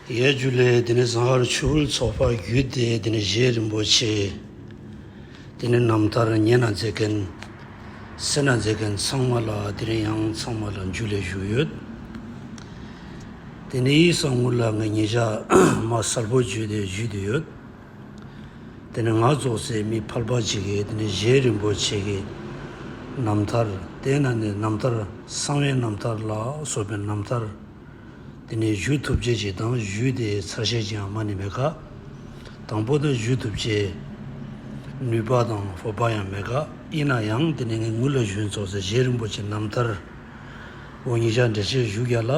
གཡས་བརྒྱུད་ལས་དེ་ནས་གཟའ་ཨར་ཆུ་བོའི་ཚོགས་ཕག་བརྒྱུད་དེ་དེ་ནས་བཞེས་རིན་པོ་ཆེ། དེ་ནས་རྣམ་ཐར་མཉེས་ན་མཛེས་མཁན། སེར་ན་མཛེས་མཁན་ཚང་མ་ལ་དེ་རིང་ཡང་ཚང་མ་ལ་མཇུག་ལས་བཞུགས་ཡོད། དེ་ནས་ཡིག་གསང་ངུར་ལ་ངས་ཉིན་ཞག་མ་གསར་བུ་བརྒྱུད་དེ་བརྒྱུད་དུ་ཡོད། དེ་ནས་ངག་རྫོགས་ཚེ་མི་ཕར་པར་བྱེད་ཀྱི་དེ་ནས་གཞན་རིན་པོ་ཆེ་གི་རྣམ་ཐར་དེ་ན་ནས་རྣམ་ཐར་གསང་བའི་རྣམ་ཐར་ལ་སོགས་པའི་རྣམ་ཐར་དེ་ནས་བཞུགས་ཐུབ་བྱེད་ཅིག་དང་བཞུགས་དེ་ཚར་བཤད་ཅིག་ཡང་མ་ནི་མེད་ཀ། དང་པོ་ན་བཞུགས་ཐུབ་བྱེད་ནུས་པ་དང་བོ་པ་ཡང་མེད་ཀ་ཡིན་ན་ཡང་དེ་ནས་ངའི་ངུ་ལ་བཞུགས་རྫོགས་ཚེ་གཞན་རིན་པོ་ཆེ་རྣམ་ཐར་འོ་ཉི་ཤར་འགྲེལ་བྱེད་བཞུགས་བརྒྱ་ལ།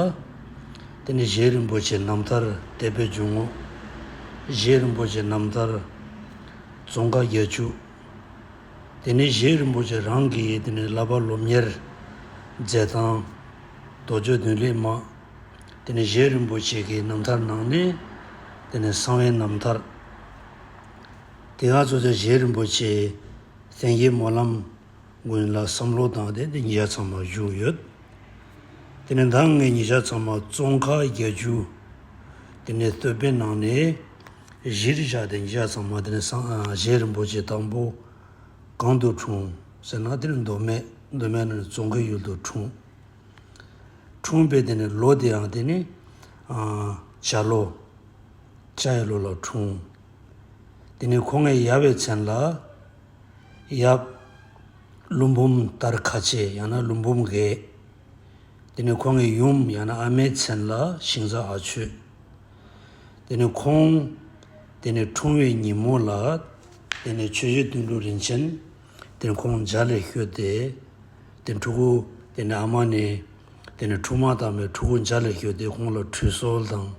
དེ་ནས་བཞེས་རིན་པོ་ཆེ་རྣམ་ཐར་དད་པའི་འཇུག་ངོགས། བཞེས་རིན་པོ་ཆེ་རྣམ་ཐར་རྫོང་ཁ་རྒྱལ་ཕྱུག། དེ་ནས་བཞེས་རིན་པོ་ཆེ་རང་གིས་དེ་ནས་བསླབ་པ་སློབ་གཉེར་མཛད་དང། རྡོ་རྗེ་བདུན་ལེགས་མ། དེ་ནས་བཞེས་རིན་པོ་ཆེ་གི་རྣམ་ཐར་ནང་ནས་དེ་ནས་གསང་བའི་རྣམ་ཐར། དེ་སྔ་གཙོ་ཆེ་བཞེས་རིན་པོ་ཆེའི་གསན་བཞེས་སྨོན་ལམ། སྔོན་ལ་བསམ་བློ་དང་ལྡན་པའི་ཉིས་ཆ་ཚང་མ་བཞུགས་ཡོད། དེ་ནས་ད་སྔའི་ཉིས་ཆ་ཚང་མ་ཙོང་ཁ་རྒྱལ་རྒྱུ། དེ་ནས་བསྟོད་པའི་ནང་ནས་གཞིར་བཞག་སྟེ་ཉིས་ཆ་ཚང་མ་དེ་ནས་སངས་རྒྱས་རིན་པོ་ཆེ་དང་པོ་གང་དུ་འཁྲུངས་ཟེར་ན་དེ་ནས་མདོ་སྨད་མདོ་སྨད་ནང་ནས་ཙོང་ཁའི་ཡུལ་དུ་འཁྲུངས། འཁྲུངས་པའི་དེ་ནས་ལོ་དེའང་དེ་ནི་བྱ་ལོ། བྱ་ཡི་ལོ་ལ་འཁྲུངས། དེ་ནས་ཁོང་ངའི་ཡར་བའི་མཚན་ལ། ཡབ། ཀླུ་འབུམ་ལྟར་ཁ་ཆེ་ཡང་ན་ཀླུ་འབུམ་རྒས། དེ་ནི་ཁོང་གི་ཡུམ་ཡང་ན་ཨ་མའི་མཚན་ལ་ཤིང་བཟའ་ཨ་ཆོས། དེ་ནི་ཁོང། དེ་ནི་འཁྲུངས་བའི་ཉིན་མོ་ལ། དེ་ནི་ཆོས་རྗེ་དོན་གྲུབ་རིན་ཆེན། དེ་ནི་ཁོང་འཇའ་ལས་བཤོས་ཏེ། དེ་ནི་ཕྲུ་གུ། དེ་ནི་ཨ་མ་ནི། དེ་ནི་འཁྲུངས་མ་དང་པའི་ཕྲུ་གུ་འཇའ་ལས་བཤོས་ཏེ་ཁོང་ལ་ཁྲུས་གསོལ་དང།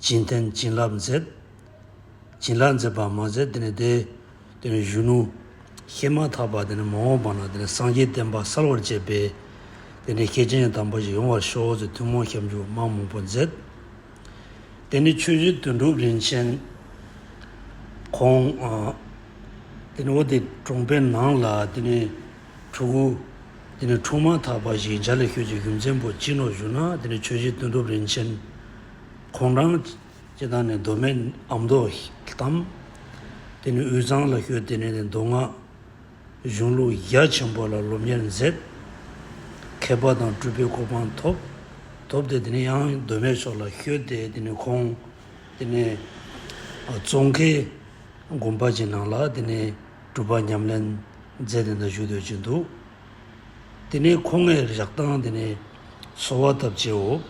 བྱིན་རྟེན་བྱིན་རླབས་མཛད། བྱིན་རླབས་མཛད་པར་མ་ཟད་དེ་ནི་དེ། དེ་ནི་གཞོན་ནུ། བཤད་མ་ཐག་པ་དེ་ནི་མ་འོངས་པ་ན་དེ་ནི་སངས་རྒྱས་བསྟན་པ་གསར་བར་བཅད་པས། དེ་འདྲའི་སྐྱེས་ཆེན་དམ་པ་ཞིག་ཡོང་བར་ཤོག་ཅེས་ཐུན་མོང་ཞབས་འཇུག་མང་མང་པོ་མཛད། དེ་ནི་ཆོས་རྗེ་དོན་གྲུབ་རིན་ཆེན། ཁོང། དེ་ནི་བོ་དེ་གྲོངས་པའི་ནང་ལ་དེ་ནི་དྲུག་གོ། དེ་ནི་འཁྲུངས་མ་ཐག་པ་ཞིག་འཇའ་ལས་ཤོད་ཅིག་རྒྱུ་མཚན་པོ་ཅི་ནོ་ཞུ་ན་དེ་ནི་ཆོས་རྗེ་དོན་གྲུབ་རིན་ཆེན། ཁོང་རང། ཅེས་དང་ནི་མདོ་སྨད་ཨ་མདོ་གཏམ། དེ་ནི་དབུས་གཙང་ལ་ཤོད་དེ་ནས་ནི་མདོ་སྔགས་གཞུང་ལུགས་རྒྱ་ཆེན་པོ་ལ་སློབ་གཉེར་མཛད། མཁས་པ་དང་སྤྲུལ་པའི་གོ་འཕང་ཐོབ། ཐོབ་སྟེ་དེ་ནས་ཡང་མདོ་སྨད་ཕྱོགས་ལ་ཤོད་དེ་དེ་ནས་ཁོང། དེ་ནས་ཙོང་ཁའི་དགོན་པ་ཅིག་ནང་ལ་དེ་ནས་སྒྲུབ་པ་ཉམས་ལེན་མཛད་དེ་འདི་བཞུགས་སྡོད་ཀྱིན་འདུག། དེ་ནས་ཁོ་ངའི་རེག་སྟངས་དེ་ནས་གསོ་བ་ཐབས་བྱེའོ།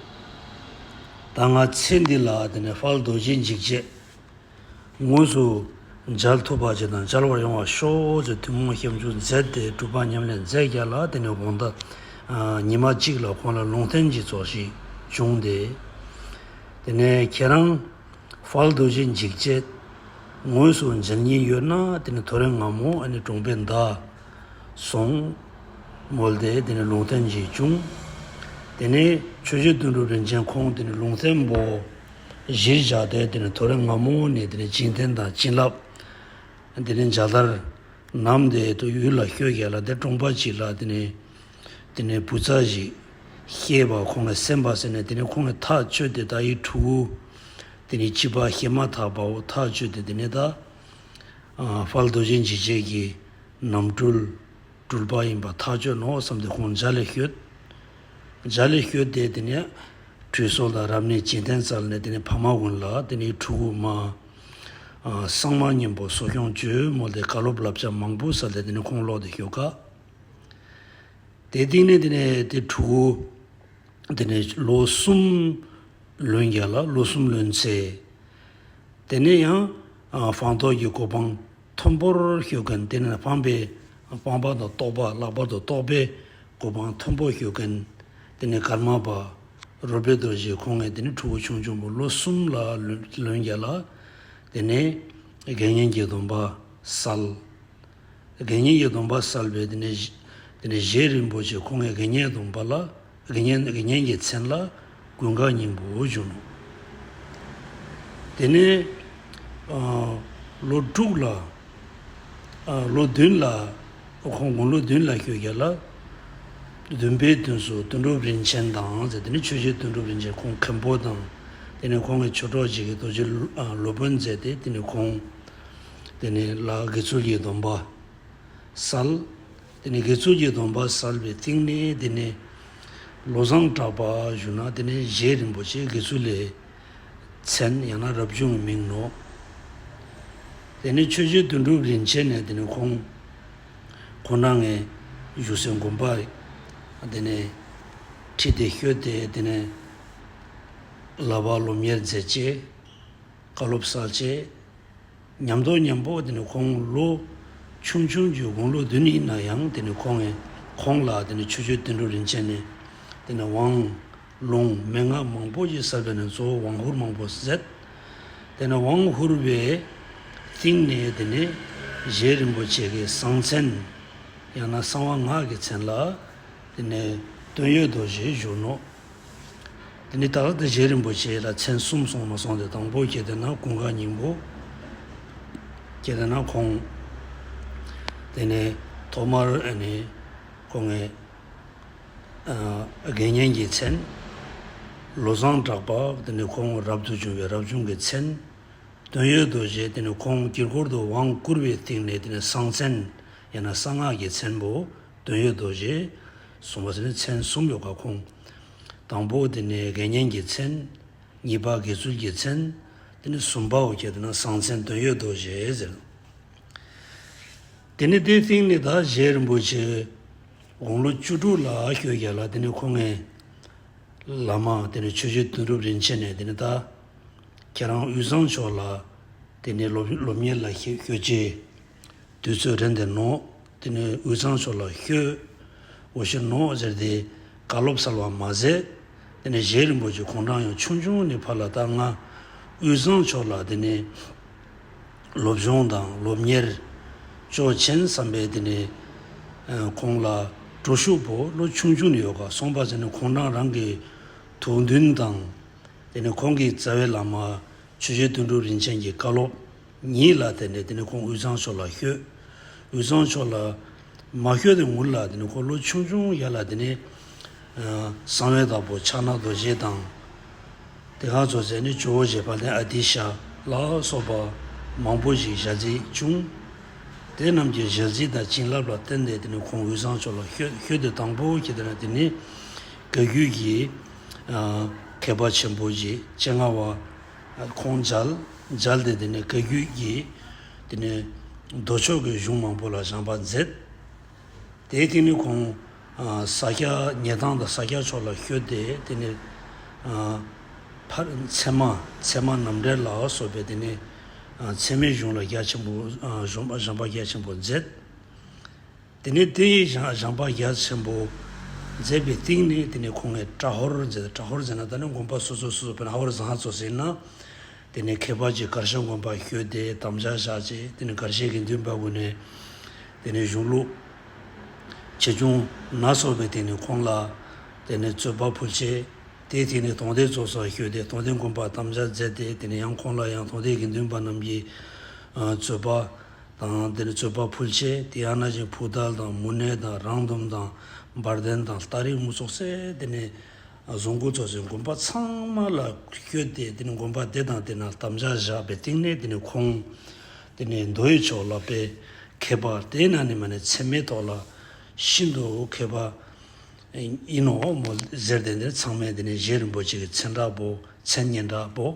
ད་ང་ཚེ་འདི་ལ་དེ་ནས་ཧྥལ་རྡོ་རྗེ་འཇིགས་བྱེད་དངོས་སུ་མཇལ་ཐུབ་པ་ཅི་དང་མཇལ་བར་ཡོང་བར་ཤོག་ཅེས་ཐུན་མོང་ཞབས་འཇུག་མཛད་དེ་གྲུབ་པ་ཉམས་ལེན་མཛད་རྒྱ་ལ་དེ་ནས་དགོངས་དག་ཉི་མ་གཅིག་ལ་ཁོང་ལ་ལུང་བསྟན་གྱི་ཚོགས་ཤིག་བྱུང་སྟེ། དེ་ནས་ཁྱེད་རང་ཧྥལ་རྡོ་རྗེ་འཇིགས་བྱེད་དངོས་སུ་མཇལ་ཉེན་ཡོད་ན་དེ་ནས་ཐོ་རེངས་ངམ་མོ་ཨ་ནི་གྲོང་པའི་མདའ་གསུངས། མོ་ལྡེ་དེ་ནི་ལུང་བསྟན་གྱིས་བྱུང། དེ་ནས་ཆོས་རྗེ་དོན་གྲུབ་རིན་ཆེན་ཁོང་དེ་ནི་ལུང་བསྟན་པོ། གཞིར་བཞག་སྟེ་དེ་ནི་ཐོ་རེངས་སྔ་མོ་ནས་དེ་ནི་བྱིན་རྟེན་དང་བྱིན་རླབས། དེ་ནི་འཇའ་དར། ནམ་དེ་དུ་ཡུལ་ལ་བསྐྱོད་གྱ་ལ་དེར་གྲོངས་པ་གཅིག་ལ་དེ་ནི། དེ་ནི་བུ་ཚ་ཞིག། སྐྱེས་པ་ཁོང་ལ་སེམས་པ་ཟེར་ནས་དེ་ནི་ཁོང་གི་ཐག་གཅོད་དེ་ད་ཡིག་དྲུག། དེ་ནི་བྱིས་པ་བཤད་མ་ཐག་པའོ་ཐག་གཅོད་དེ་དེ་ནི་ད། དཔལ་རྡོ་རྗེ་འཇིགས་བྱེད་ཀྱི་རྣམ་སྤྲུལ་སྤྲུལ་པ་ཡིན་པ་ཐག་ཆོད་ནོ་བསམ་སྟེ་ཁོང་འཇའ་ལས་བཞུད། འཇའ་ལས་བཞུད་དེ་དེ་ནས་ཁྲུས་སོགས་དང་རབ་གནས་བྱིན་རྟེན་སྩལ་ནས་དེ་ནས་ཕ་མ་དབུལ་ལ་དེ་ནས་ཕྲུ་གུ་མ། སངས་མ་གཉན་པོ་གསོ་སྐྱོང་ཇོ་མོ་ལས་བཀའ་སློབ་བསླབ་བྱ་མང་པོ་སྩལ་ཏེ་དེ་ནས་ཁོང་ལོག་དེ་ཞོ་ཁ། དེ་བཏིང་ནས་དེ་ནས་དེ་ཕྲུ་གུ་དེ་ནས་ལོ་གསུམ་ལོན་བརྒྱ་ལ་ལོ་གསུམ་ལོན་ཚེ། དེ་ནས་ཡང་སྤང་རྟོགས་ཀྱི་གོ་འཕང་མཐོན་པོར་ཞུགས་མཁན་དེ་ནི་སྤངས་པའི་སྤངས་པ་དང་རྟོགས་པ་ལྷག་པར་དུ་རྟོགས་པའི་གོ་འཕང་མཐོན་པོར་ཞུགས་མཁན་དེ་ནི་ཀརྨ་པ་རཱོ་པེ་ཏོ་ཞེས་ཁོང་ངས་དེ་ནས་ཕྲུ་གུ་ཆུང་ཆུང་བུ་ལོ་གསུམ་ལ་ལོན་རྒྱག་ལ། དེ་ནས་དགེ་བསྙེན་གྱི་སྡོམ་པ་གསལ། དགེ་བསྙེན་གྱི་སྡོམ་པ་གསལ་བས་དེ་ནས་བཞེས་རིན་པོ་ཆེ་ཁོང་ངས་དགེ་བསྙེན་སྡོམ་པ་ལ། རི་གཉན་རི་གཉན་གྱི་མཚན་ལ་དགུན་ཁ་སྙིང་པོ་བྱུང། དེ་ནས་ལོ་དྲུག་ལ། ལོ་བདུན་ལ་ཁོང་དགུང་ལོ་བདུན་ལ་བསྐྱོད་རྒྱ་ལ། བདུན་པའི་དུས་སུ་དོན་གྲུབ་རིན་ཆེན་དང་མཛད་དེ་ནས་ཆོས་རྗེ་དོན་གྲུབ་རིན་ཆེན་ཁོང་མཁན་པོ་དང། དེ་ནས་ཁོང་གི་ཆོས་གྲོགས་གཅིག་གིས་རྡོ་རྗེ་སློབ་དཔོན་མཛད་དེ་དེ་ནས་ཁོང། དེ་ནས་ལ་དགེ་ཚུལ་གྱི་སྡོམ་པ་བསལ། དེ་ནས་དགེ་ཚུལ་གྱི་སྡོམ་པ་བསལ་བའི་སྟེང་ནས་དེ་ནས་བློ་བཟང་གྲགས་པ་བཞུགས་ན་དེ་ནས་གཞས་རིན་པོ་ཆེ་དགེ་ཚུལ་ལས་ཚན་ཡང་ན་རབ་བྱུང་གི་མིང་ནོ། དེ་ནས་ཆོས་རྗེ་དོན་གྲུབ་རིན་ཆེན་ནས་དེ་ནས་ཁོང་ཁོ་ན་ངས་བཞུགས་སའི་དགོན་པ་དེ་ནས་ཁྲིད་དེ་བསྐྱོད་དེ་དེ་ནས་ལ་བ་སློབ་གཉེར་མཛད་རྗེས་བཀའ་སློབ་བསགས་རྗེས། ཉམས་རྟོགས་ཉམས་དཔོག་དེ་ནི་ཁོང་ལོ་ཆུང་ཆུང་རྒྱུའི་དགུང་ལོ་བདུན་ཡིན་ན་ཡང་དེ་ནི་ཁོང་ངས་ཁོང་ལ་དེ་ནི་ཆོས་སྤྱོད་བསྟན་འགྲོ་རིན་ཆེན་ནི་དེ་ནི་དབང་ལུང་མན་ངག་མང་པོ་ཡི་ས་བོན་ནི་གཙོ་བོ་དབང་ཧུར་མང་པོ་ཟད་དེ་ནི་དབང་ཧུར་བའི་གཏིང་ནས་དེ་ནི་གཞན་རིན་པོ་ཆེ་གི་གསང་མཚན་ཡང་ན་གསང་བ་སྔགས་ཀྱི་མཚན་ལ་དེ་ནི་དོན་ཡོད་དོ་ཞེས་བཞུགས་ནོ། དེ་ནས་ཏཱ་ལ་དེ་བཞེས་རིན་པོ་ཆེ་ལ་མཚན་གསུམ་སོང་མ་སོང་དེ་དང་པོ་གྱེས་དེ་ན་ཀུན་དགའ་སྙིང་པོ། གྱེས་དེ་ན་ཁོང། དེ་ནས་ཐོག་མར་ནི་ཁོ་ངའི། དགེ་བསྙེན་གྱི་མཚན། ལོ་བཟང་གྲགས་པ་དེ་ནས་ཁོང་རབ་ཏུ་བྱུང་བའི་རབ་བྱུང་གི་མཚན། དོན་ཡོད་རྡོ་རྗེ་དེ་ནས་ཁོང་དཀྱིལ་འཁོར་དུ་དབང་བསྐུར་བའི་སྟེང་ནས་དེ་ནས་གསང་མཚན་ཡང་ན་གསང་སྔགས་ཀྱི་མཚན་པོ་དོན་ཡོད་དོ་ཞེས་གསུངས་པ་སེམས་ནི་མཚན་གསུམ་ཡོ་ག་ཁུངས། དང་པོ་དེ་ནི་དགེ་བསྙེན་གྱི་མཚན། གཉིས་པ་དགེ་ཚུལ་གྱི་མཚན། དེ་ནི་གསུམ་པའོ་ཁྱེད་ན་བཟང་མཚན་དོན་ཡོད་དོ་ཞེས་ཟེར། དེ་ནི་དེའི་སྟེང་ནས་དག་བཞེས་རིན་པོ་ཆེ་དགུང་ལོ་བཅུ་དྲུག་ལ་ཤོས་བརྒྱད་ལ་དེ་ནི་ཁོ་ངའི་བླ་མ་དེ་ནི་ཆོས་རྗེ་དོན་གྲུབ་རིན་ཆེན་ནས་དེ་ནི་ད་ཁྱེད་རང་དབུས་གཙང་ཕྱོགས་ལ་དེ་ནི་སློབ་གཉེར་ལ་ཤོད་ཅིག། དུས་ཚོད་རན་ཏེ་ནོ། དེ་ནས་འུ་ཚང་ཕྱོགས་ལ་བཤོས། འོ་ཤོས་ནོ་ཟེར་ཏེ། དགའ་སློབ་ཚར་བ་མ་ཟད། དེ་ནས་གཞས་རིང་པོ་ཅིག་གོང་དྲངས་ཡང་ཆུང་ཆུང་ནས་ཕར་ལ་བཏགས། ང་འུ་ཚང་ཕྱོགས་ལ་དེ་ནས། སློབ་སྦྱོང་དང་སློབ་གཉེར། ཅོག་ཆེན་བསམ་པའི་དེ་ནས། གོང་ལ། གྲོ་ཤུག་བོ་ལོ་ཆུང་ཆུང་ནས་ཡོད་ག་སོང་པ་ཟེར་ནས་གོང་དྲངས་རང་གི། དུག་མདུན་དང། དེ་ནས་གོང་གི་རྩ་བའི་བླ་མ། ཆོས་རྗེ་དོན་གྲུབ་རིན་ཆེན་གྱི་བཀའ་སློབ། ཉིད་ལ་དེ་ནས་དེ་ནས་ཁོང་དབུས་གཙང་ཕྱོགས་ལ་བཤོས། དབུས་གཙང་ཕྱོགས་ལ། མ་བཤོས་ཏེ་ངུར་ལ་དེ་ནས་འཁོར་ལོ་ཆུང་ཆུང་ཡར་ལ་དེ་ནས། གསང་བའི་བདག་པོ་ཕྱག་ན་རྡོ་རྗེ་དང། དེ་ག་ཚོགས་རྫས་ནི་ཇོ་བོ་རྗེ་བ་དན་ཨ་ཏི་ཤ་ལ་སོགས་པ། མང་པོ་ཞིག་ཞལ་གཟིགས་བྱུང། དེ་རྣམས་ཀྱི་ཞལ་གཟིགས་དང་བྱིན་རླབས་ལ་བརྟེན་ནས་དེ་ནས་ཁོང་དབུས་གཙང་ཕྱོགས་ལ་བཤོས་བཤོས་ཏེ་དང་པོ་ཁྱེད་དེ་ན་དེ་ནས། ག་གུལ་གྱི། མཁས་པ་ཆེན་པོ་རྗེ་སྤྱན་སྔ་བ། ཁོང་འཇལ། འཇལ་ཏེ་དེ་ནས་བཀའ་བརྒྱུད་ཀྱི་དེ་ནས་མདོ་ཕྱོགས་ཀྱི་གཞུང་མང་པོ་ལ་སྦྱངས་པ་མཛད། དེའི་སྟེང་ནས་ཁོང་ས་སྐྱ་ཉེ་ཐང་དང་ས་སྐྱ་ཕྱོགས་ལ་བསྐྱོད་དེ་དེ་ནས་ཕ་ཚད་མ་ཚད་མ་ནམ་འབྲལ་ལ་སོགས་པའི་དེ་ནས་ཚད་མའི་གཞུང་ལ་རྒྱ་ཆེན་པོ་སྦྱངས་པ་རྒྱ་ཆེན་པོ་མཛད། དེ་ནས་དེ་ཡིས་ཀྱང་སྦྱངས་པ་རྒྱ་ཆེན་པོ་མཛད་པའི་སྟེང་ནས་དེ་ནས་ཁོང་ངས་བཀྲ་ཧོར་མཛད་བཀྲ་ཧོར་མཛད་ན་ད་ནི་དགོན་པ་སོ་སོ་སོ་སོ་བོན་ཧ་བར་བཟང་གཙོ་ཟིན་ན། དེ་ནས་ཁྱད་པར་གྱི་དཀར་ཤང་དགོན་པར་བསྐྱོད་དེ་དམ་བཅའ་བཞག་ཅིག་དེ་ནས་གར་བྱེད་དགེ་འདུན་པ་དགོན་ནས་དེ་ནས་གཞུང་ལུགས། ཆེ་ཆུང། སྣ་ཚོགས་པའི་སྟེང་ནས་ཁོང་ལ་དེ་ནས་རྩོད་པ་ཕུལ། ཅེས་དེའི་ཐིག་ནས་དོང་སྟེ་གཙོ་སར་བསྐྱོད་དེ་དོང་སྟེ་དགོན་པར་དམ་བཅའ་མཛད་དེ་དེ་ནས་ཡང་ཁོང་ལ་ཡང་དོང་སྟེ་དགེ་འདུན་པ་རྣམས་ཀྱིས་རྩོད་པ། དང། འདིར་རྩོད་པ་ཕུལ་ཆེ་དེ་ཨ་ན་ཅིང་ཕུག་ཏལ་དང་མུ་ནེ་དང་རང་འདོམ་དང་འབར་ལྡན་དང་སྟག་རིག་དམུ་ཚོགས་སེ་དེ་ནས་བཟུང་སྐུ་ཚོགས་ཀྱི་དགོན་པ་ཚང་མ་ལ་བསྐྱོད་དེ་དེ་ནས་དགོན་པ་དེ་དང་དེ་ན་དམ་བཅའ་བཞག་པའི་སྟེང་ནས་དེ་ནས་ཁོང་དེ་ནས་མདོ་ཡི་ཕྱོགས་ལ་བས་མཁས་པ་དེ་ན་ནི་མ་ནི་ཚད་མའི་ཐོག་ལ་ཤིན་ཏུ་མཁས་པ་ཡིན་ནོ་མོ་ཟེར་དེ་འདིར་ཚང་མས་དེ་ནས་གཞན་རིན་པོ་ཆེ་གི་མཚན་དྲག་པོ་མཚན་སྙན་དྲག་པོ་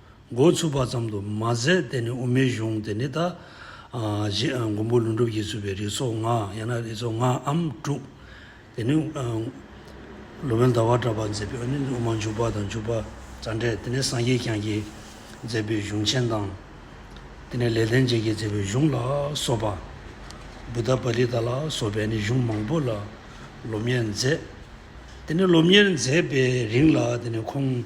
འགོ་ཚུགས་པ་ཙམ་དུ་མ་ཟད་དེ་ནི་དབུ་མའི་གཞུང་དེ་ནི་ད་གཞི་མགོན་པོ་ལྷུན་གྲུབ་ཀྱིས་བཙུགས་པའི་རིགས་ཚོགས་ལྔ་ཡང་ན་རིགས་ཚོགས་ལྔའམ་དྲུག་དེ་ནི། ལོ་མོན་ཟླ་བ་གྲགས་པ་མཛད་པའི་དབུ་མ་འཇུག་པ་དང་འཇུག་པ་རྩ་འགྲེལ་དེ་ནི་སངས་རྒྱས་བསྐྱངས་ཀྱིས་མཛད་པའི་གཞུང་ཆེན་དང། དེ་ནི་ལེགས་ལྡན་འབྱེད་ཀྱིས་མཛད་པའི་གཞུང་ལ་སོགས་པ། བུད་དྷ་པ་ལི་ཏཱ་ལ་སོགས་པས་ནི་གཞུང་མང་པོ་ལ་སློབ་གཉེར་མཛད། དེ་ནི་སློབ་གཉེར་མཛད་པའི་རིང་ལ་དེ་ནི་ཁོང།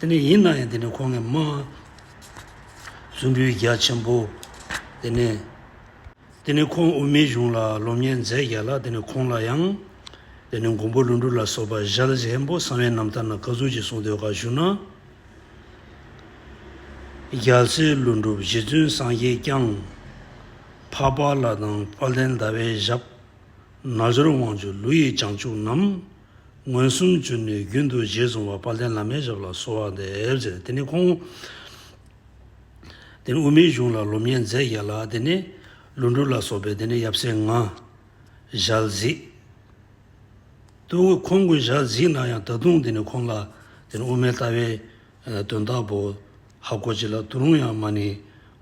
དེ་ནས་ཡིན་ན་ཡང་དེ་ནས་ཁོང་གིས་སྨྲས། གཟུངས་འབུལ་རྒྱ་ཆེན་པོ། དེ་ནས། དེ་ནས་ཁོང་དབུ་མའི་གཞུང་ལ་སློབ་གཉེར་མཛད་བཞག་ལ་དེ་ནས་ཁོང་ལ་ཡང། དེ་ནས་མགོན་པོ་ཀླུ་འབྲུག་ལ་སོགས་པ་ཞལ་བཞེས་འབོ་གསང་བའི་རྣམ་ཐར་ན་བཀའ་ཟུར་གྱི་གསུང་དོན་ཁག་ཞུ་ན། རྒྱ་མཚོའི་ཀླུ་འབྲུག་རྗེ་བཙུན་སངས་རྒྱས་བསྐྱངས། འཕགས་པ་ལ་དང་དཔལ་ལྡན་ཟླ་བའི་ཞབས། ན་སྦྱོར་དབང་ཕྱུག་ཀླུ་ཡི་བྱང་ཆུབ་རྣམས། མངོན་སུམ་གྱུར་ནས་རྒྱུན་དུ་རྗེས་བཟུང་བ་དཔལ་ལྡན་བླ་མའི་ཞབས་ལ་གསོལ་བ་འདེབས། ཅེས་དེ་ནས་ཁོང་དེ་ནས་དབུ་མའི་གཞུང་ལ་སློབ་གཉེར་མཛད་བཞག་ལ་དེ་ནས་ལུང་སྒྲུབ་ལ་སོགས་པའི་དེ་ནས་ཡབ་སྲས་ལྔ། ཞལ་གཟིགས། ཏུ་ཁོང་ཀུན་ཞལ་གཟིགས་གནང་ཡང་ད་དུང་དེ་ནས་ཁོང་ལ་དེ་ནས་དབུ་མའི་ལྟ་བའི་དོན་དག་པོ་ཧ་གོ་བྱེད་ལ་ཏུ་རུང་ཡང་མ་ནི་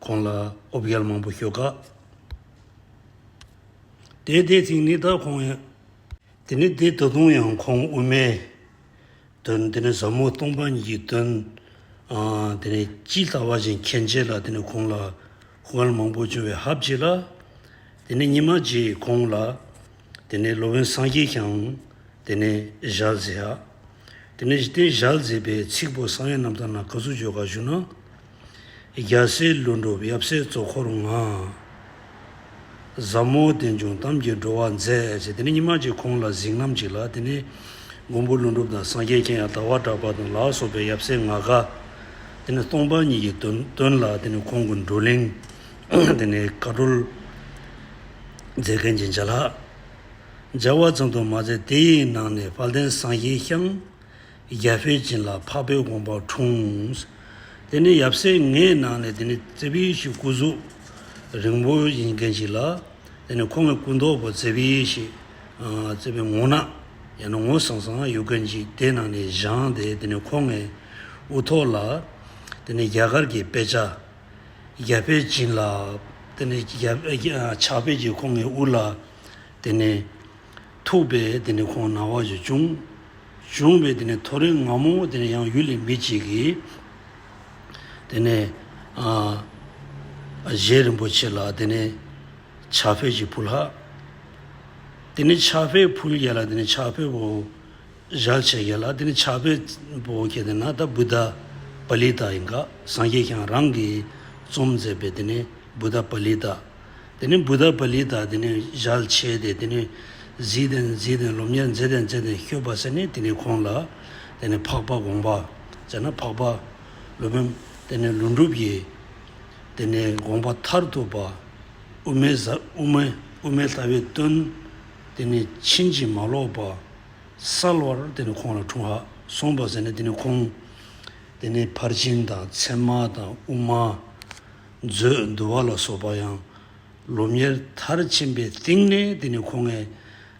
ཁོང་ལ་ཨོ་བརྒྱལ་མང་པོ་ཞུ་དཀའ། དེ་དེ་ཚིག་ནི་ད་ཁོང། དེ་ནི་དེ་ད་དུང་ཡང་ཁོང་དབུ་མའི་དོན་དེ་ནི་ཟབ་མོ་སྟོང་པ་ཉིད་ཀྱི་དོན་དེ་ནི་ཅི་ལྟ་བ་བཞིན་མཁྱེན་བྱས་ལ་དེ་ནི་ཁོང་ལ་དབལ་མང་པོ་བྱུང་བའི་ཧབ་བྱས་ལ། དེ་ནི་ཉི་མ་རྗེས་ཁོང་ལ་དེ་ནི་ལོ་བོན་སངས་རྒྱས་ཀྱང་དེ་ནི་བཞག་ཟེར། དེ་ནས་བསྟན་བཞག་མཛད་པའི་ཚིག་པོ་གསང་ཡེ་རྣམ་དག་ན་ག་ཚུལ་བརྗོད་དགག་བཞུགས་ན། རྒྱལ་སྲས་ཀླུ་འགྲུབ་ཡབ་སྲས་གཙོ་འཁོར་ལྔ། ཟབ་མོ་བསྟན་འབྱུང་གཏམ་གྱིས་འགྲོ་བ་མཛད། ཅེས་དེ་ནས་ཉི་མ་གཅིག་ཁོང་ལ་གཟིགས་རྔམ་གཅིག་ལ་དེ་ནས་མགོན་པོ་ཀླུ་འགྲུབ་དང་སངས་རྒྱས་མཁྱེན་ཡང་དག་བ་གྲགས་པ་དང་ལག་སོགས་པའི་ཡབ་སྲས་ལྔ་ག། དེ་ནས་སྟོང་པ་ཉིད་ཀྱི་དོན་ལ་དེ་ནས་ཁོང་གི་འགྲོ་གླེང། དེ་ནས་བཀའ་བགྲོལ་མཛད་མཁན་གྱི་མཇལ་ལྷག། སྦྱར་བ་ཙམ་དུ་མ་ཟད་དེ་ཡི་ནང་ནས་དཔལ་ལྡན་སངས་རྒྱས་ཤཱཀྱ་བྷས་བྱིན་ལ་འཕགས་པའི་དགོངས་པ་འཁྲུངས། དེ་ནས་ཡབ་སྲས་ལྔའི་ནང་ནས་དེ་ནི་རྩེ་བྷི་ཡེ་ཤེས་སྐུ་གཟུགས་རིང་པོ་ཡིན་མཁན་ཞིག་ལ། དེ་ནས་ཁོང་གི་སྐུ་མདོག་གོ་རྩེ་བྷི་ཡེ་ཤེས། རྩེ་བྷའི་ངོ་ནག། ཡང་ན་ངོ་སངས་སངས་ཡོད་མཁན་ཞིག་དེ་ནང་ནས་བཞེངས་ཏེ་དེ་ནས་ཁོང་ངའི་དབུ་ཐོག་ལ། དེ་ནས་རྒྱ་གར་གྱི་དཔེ་ཆ་རྒྱ་དཔེ་སྦྱིན་ལ། དེ་ནས་ཕྱག་དཔེ་གྱིས་ཁོང་གི་དབུ་ལ། དེ་ནས་ཐུག་པས་དེ་ནས་ཁོང་ན་བ་ཞིག་བྱུང། བྱུང་བས་དེ་ནས་ཐོ་རེངས་ང་མོ་དེ་ནས་ཡང་ཡུལ་ལས་མི་གཅིག་གིས། དེ་ནས་གཞན་རིན་པོ་ཆེ་ལ་དེ་ནས་ཕྱག་དཔེ་གྱིས་བུ་ལྷག། དེ་ནས་ཕྱག་དཔེ་བུ་ཡལ་ལ་དེ་ནས་ཕྱག་དཔེ་བུ། བཞག་བྱས་གལ་ལ་དེ་ནི་ཕྱག་དཔེ་པོ་གལ་ཏེ་ན་ད་བུདྡྷ་པ་ལི་ཏཱ་ཡིན་ག་སངས་རྒྱས་ཀྱང་རང་གིས་རྩོམ་མཛད་པས་དེ་ནི་བུདྡྷ་པ་ལི་ཏཱ། དེ་ནི་བུདྡྷ་པ་ལི་ཏཱ་དེ་ནི་བཞག་བྱས་ཏེ་དེ་ནི་གཟིགས་ཏེ་མཛིད་དེ་སློབ་གཉེར་མཛད་དེ་མཛད་དེ་སྐྱོབ་པ་ཟེར་ནས་དེ་ནི་ཁོང་ལ་དེ་ནི་འཕགས་པ་དགོངས་པ་ཟེར་ན་འཕགས་པ་ལུས་པའི་དེ་ནི་ལུས་འགྲུབ་ཀྱི་དེ་ནི་དགོངས་པ་མཐར་ཐུག་པ་དབུ་མའི་ས་དབུ་མའི་དབུ་མའི་ལྷ་བའི་སྟོན་དེ་ནི་ཕྱིན་ཅི་མ་ལོག་པ། གསལ་བར་དེ་ནི་ཁོང་ལ་འཁྲུངས། སོང་བར་ཟེར་ནས་དེ་ནི་ཁོང། དེ་ནས་ཕར་ཕྱིན་དང་མཚན་མ་དང་དབུ་མ། མཛོད། འདུལ་བ་ལ་སོགས་པ་ཡང། ལོ་ཉེར་མཐར་ཕྱིན་པའི་སྟེང་ནས་དེ་ནི་ཁོང།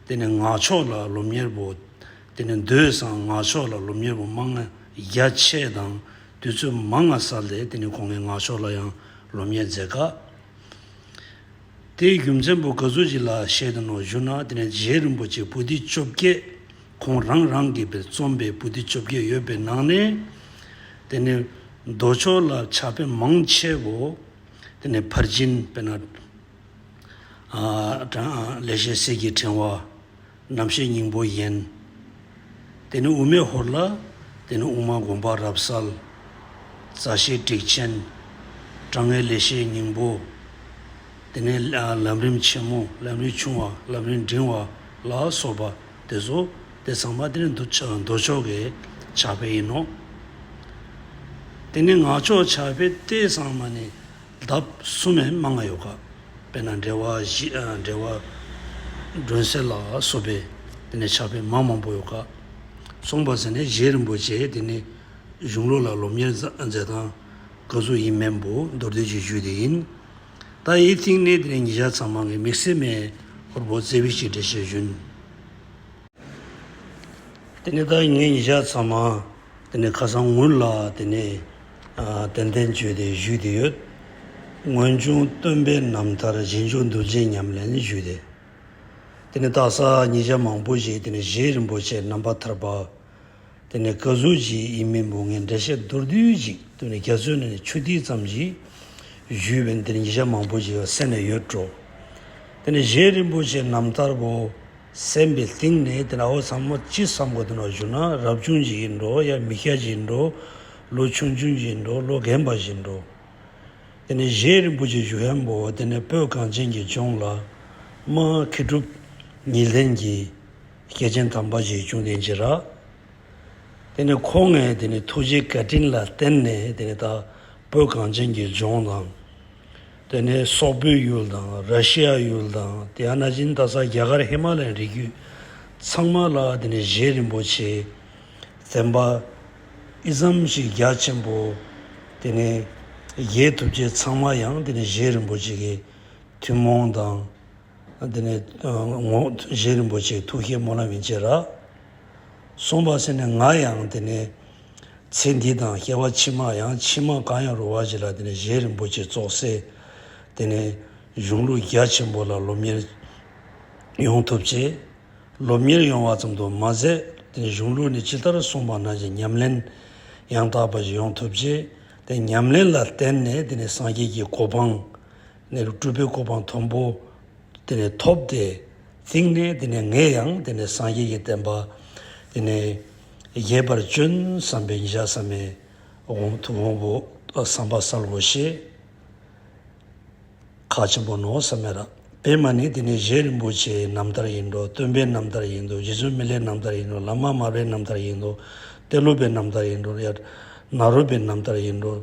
དེ་ནི་ནག་ཕྱོགས་ལ་ལོ་ཉེར་བུ། དེ་ནི་མདོས་བཟང་ནག་ཕྱོགས་ལ་ལོ་ཉེར་བུ་མ་ལྔ་བརྒྱ་ཕྱེད་དང་དུས་ཚོད་མ་ལྔ་ས་ལས་དེ་ནི་ཁོང་ནག་ཕྱོགས་ལ་ཡང་ལོ་ཉེར་རྫས་ཀ། དེའི་རྒྱུ་མཚན་བུ་ག་ཟུར་གཅིག་ལ་བཤད་དོ་ནོ་ཞུ་ན་དེ་ནས་རྗེ་རིན་པོ་ཆེ་བུ་སྡེ་བཅོ་བརྒྱད་ཁོང་རང་རང་གིས་པའི་རྩོམ་པའི་བུ་སྡེ་བཅོ་བརྒྱད་ཡོད་པའི་ནང་ནས། དེ་ནས་མདོ་ཕྱོགས་ལ་ཕྱག་ཕེབས་མང་ཆེ་བོ། དེ་ནས་ཕར་ཕྱིན་པས་ན། ལས་ཤེས་གསེར་གྱི་ཕྲེང་བ། རྣམ་ཤེས་སྙིང་པོ་ཡན། དེ་ནི་དབུ་མའི་ཧོར་ལ། དེ་ནི་དབུ་མ་དགོངས་པ་རབ་གསལ། མཛའ་བཤེས་དྲེགས་ཆེན། དྲང་ངེས་ལེགས་བཤད་སྙིང་པོ། དེ་ནི་ལམ་རིམ་ཆེན་མོ་ལམ་རིམ་ཆུང་བ་ལམ་རིམ་འབྲིང་བ་ལ་སོགས་པ་དེ་ཚོ་དེ་ཚང་མ་དེ་ནི་འདུ་འདུ་ཕྱོགས་ཀྱི་ཕྱག་དཔེ་ཡིན་ནོ། དེ་ནི་ངག་ཕྱོགས་ཕྱག་དཔེ་སྟེ་ཚང་མ་ནི། ལྡབ་གསུམ་མས་མ་ལྔ་ཡོ་ག། དཔེར་ན་འགྲེལ་བ་བཞི། འགྲེལ་བ། སྒྲོན་གསལ་ལ་སོགས་པས་དེ་ནས་ཕྱག་དཔེ་མང་མང་པོ་ཡོ་ག། གསུངས་པ་ཟེར་ནས་གཞན་རིན་པོ་ཆེ་དེ་ནི་གཞུང་ལུགས་ལ་སློབ་གཉེར་མཛད་སྟངས་དགག་བསུ་ཡིན་མེད་འབུ་མདོར་བསྡུས་ཀྱི་ཇུས་དེ་ཡིན། ད་ཡིད་གཏིང་གནས་དེ་ནས་ཉིད་ཞག་ཚང་མང་གི་མིག་སེར་མས་ཧོར་བོ་རྩེ་བས་ཅིག་འགྲེལ་བྱས་བཞུན། དེ་ནས་ད་ངས་ཉིད་ཞག་ཚང་མང། དེ་ནས་ཁ་སང་ངུར་ལ་དེ་ནས་དོན་བསྟན་བཅོས་ཏེ་བཞུགས་ཏེ་ཡོད། སྔོན་བྱུང་སྟོན་པའི་རྣམ་ཐར་རྗེས་འཇུག་འདུལ་བྱེད་ཉམས་ལེན་བཞུགས་ཏེ། དེ་ནས་སྟག་གསར་ཉིས་བརྒྱ་མང་པོ་ཞིག་དེ་ནས་བཞེས་རིན་པོ་ཆེ་རྣམ་པར་ཐར་པ། དེ་ནས་བཀའ་ཟུར་གྱི་དབྱིན་མི་འབུམ་ལྔའི་འགྲེལ་བཤད་མདོར་བསྡུས་ཅིག་དེ་ནས་རྒྱ་མཚོའི་ནས་ཆུ་ཐིགས་ཙམ་ཞིག་བཞུགས་པས་དེ་ནས་ཉིས་བརྒྱ་མང་པོ་ཞིག་གསན་ནས་ཡོད་འགྲོ། དེ་ནས་བཞེས་རིན་པོ་ཆེ་རྣམ་ཐར་པོ། སེམས་པའི་གཏིང་ནས་དེ་ནའོ་ཚང་མ་ཅི་བསམ་གོ་དེ་ནའོ་བཞུགས་ན་རབ་བྱུང་བཞིན་གྱིས་འགྲོ་ཡ་མི་སྐྱ་བཞིན་འགྲོ། ལོ་ཆུང་ཆུང་བཞིན་འགྲོ་ལོ་རྒན་པ་བཞིན་འགྲོ། དེ་ནས་གཞན་རིན་པོ་ཆེ་བཞུགས་ཧན་པོ་དེ་ནས་སྤོས་གངས་ཅན་གྱི་ལྗོངས་ལ། མ་ཁི་གྲུབ། ཉི་ལྷན་གྱིས། སྐྱེས་ཆེན་དམ་པ་ཞིག་བྱུང་དེ་འཇིགས་རག། དེ་ནས་ཁོ་ངས་དེ་ནས་ཐུགས་རྗེའི་བཀའ་དྲིན་ལ་བརྟེན་ནས་དེ་ནས་ད་སྤོས་གངས་ཅན་གྱི་ལྗོངས་དང། དེ་ནས་སོག་པོའི་ཡུལ་དང་ར་ཤི་ཡ་ཡུལ་དང་དེ་ཡང་ན་ཅིན་རྟ་ས་རྒྱ་གར་ཧི་མ་ལའི་རི་རྒྱུད་ཚང་མ་ལ་དེ་ནས་གཞན་རིན་པོ་ཆེ་བཙན་པ་ཨིཟམ་གྱི་རྒྱ་ཆེན་པོ་དེ་ནས་རྒྱའི་ཐུབ་བསྐྱེད་ཚང་མ་ཡང་དེ་ནས་གཞན་རིན་པོ་ཆེ་གི་ཐུན་མོང་དང། དེ་ནས་ངོ་བཞེས་རིན་པོ་ཆེའི་ཐུགས་བསྐྱེད་མོ་ན་མི་མཇེད་ར། གསུངས་པ་ཟེར་ནས་ང་ཡང་དེ་ནས་ཚེ་འདི་དང་སྐྱེ་བ་ཕྱི་མ་ཡང་ཕྱི་མ་གང་ཡང་རུང་བ་ཞིག་ལ་དེ་ནས་བཞེས་རིན་པོ་ཆེ་རྫོགས་སའི་དེ་ནས་གཞུང་ལུགས་རྒྱ་ཆེན་པོ་ལ་སློབ་གཉེར་ཡོང་ཐུབ་ཆེད་སློབ་གཉེར་ཡོང་བ་ཙམ་དུ་མ་ཟད་དེ་ནས་གཞུང་ལུགས་ནི་ཅི་ལྟར་གསུངས་པ་ན་ཞེས་ཉམས་ལེན་ཡང་དག་པ་ཞིག་ཡོང་ཐུབ་ཆེད་དེ་ཉམས་ལེན་ལ་བརྟེན་ནས་དེ་ནས་སངས་རྒྱས་ཀྱི་གོ་འཕང། གནས་ལུགས་སྤྲུལ་པའི་གོ་འཕང་མཐོན་པོ་དེ་ནས་ཐོབ་སྟེ། གཙིགས་ནས་དེ་ནས་ངས་ཡང་དེ་ནས་སངས་རྒྱས་ཀྱི་བསྟན་པ་དེ་ནས་རྒྱས་པར་སྤྱོན་བསམ་པའི་ཉིན་ཞག་བསམ་མེད་དབང་ཐུགས་དབང་པོ་བསམ་པ་སར་ལོག་ཤེས། ཁ་ཆེན་པོ་ནོར་བསམ་མེད་རགས་པས་མ་ནི་དེ་ནས་གཞན་རིན་པོ་ཆེའི་རྣམ་ཐར་ཡིན་འགྲོ་སྟོན་པའི་རྣམ་ཐར་ཡིན་འདུག་རྗེ་བཙུན་མི་ལའི་རྣམ་ཐར་ཡིན་འགྲོ་ལཱ་མ་དམར་པའི་རྣམ་ཐར་ཡིན་འདུག་གཏེར་ལུགས་པའི་རྣམ་ཐར་ཡིན་འགྲོ་ཡར་ནཱ་རོ་པའི་རྣམ་ཐར་ཡིན་འགྲོ།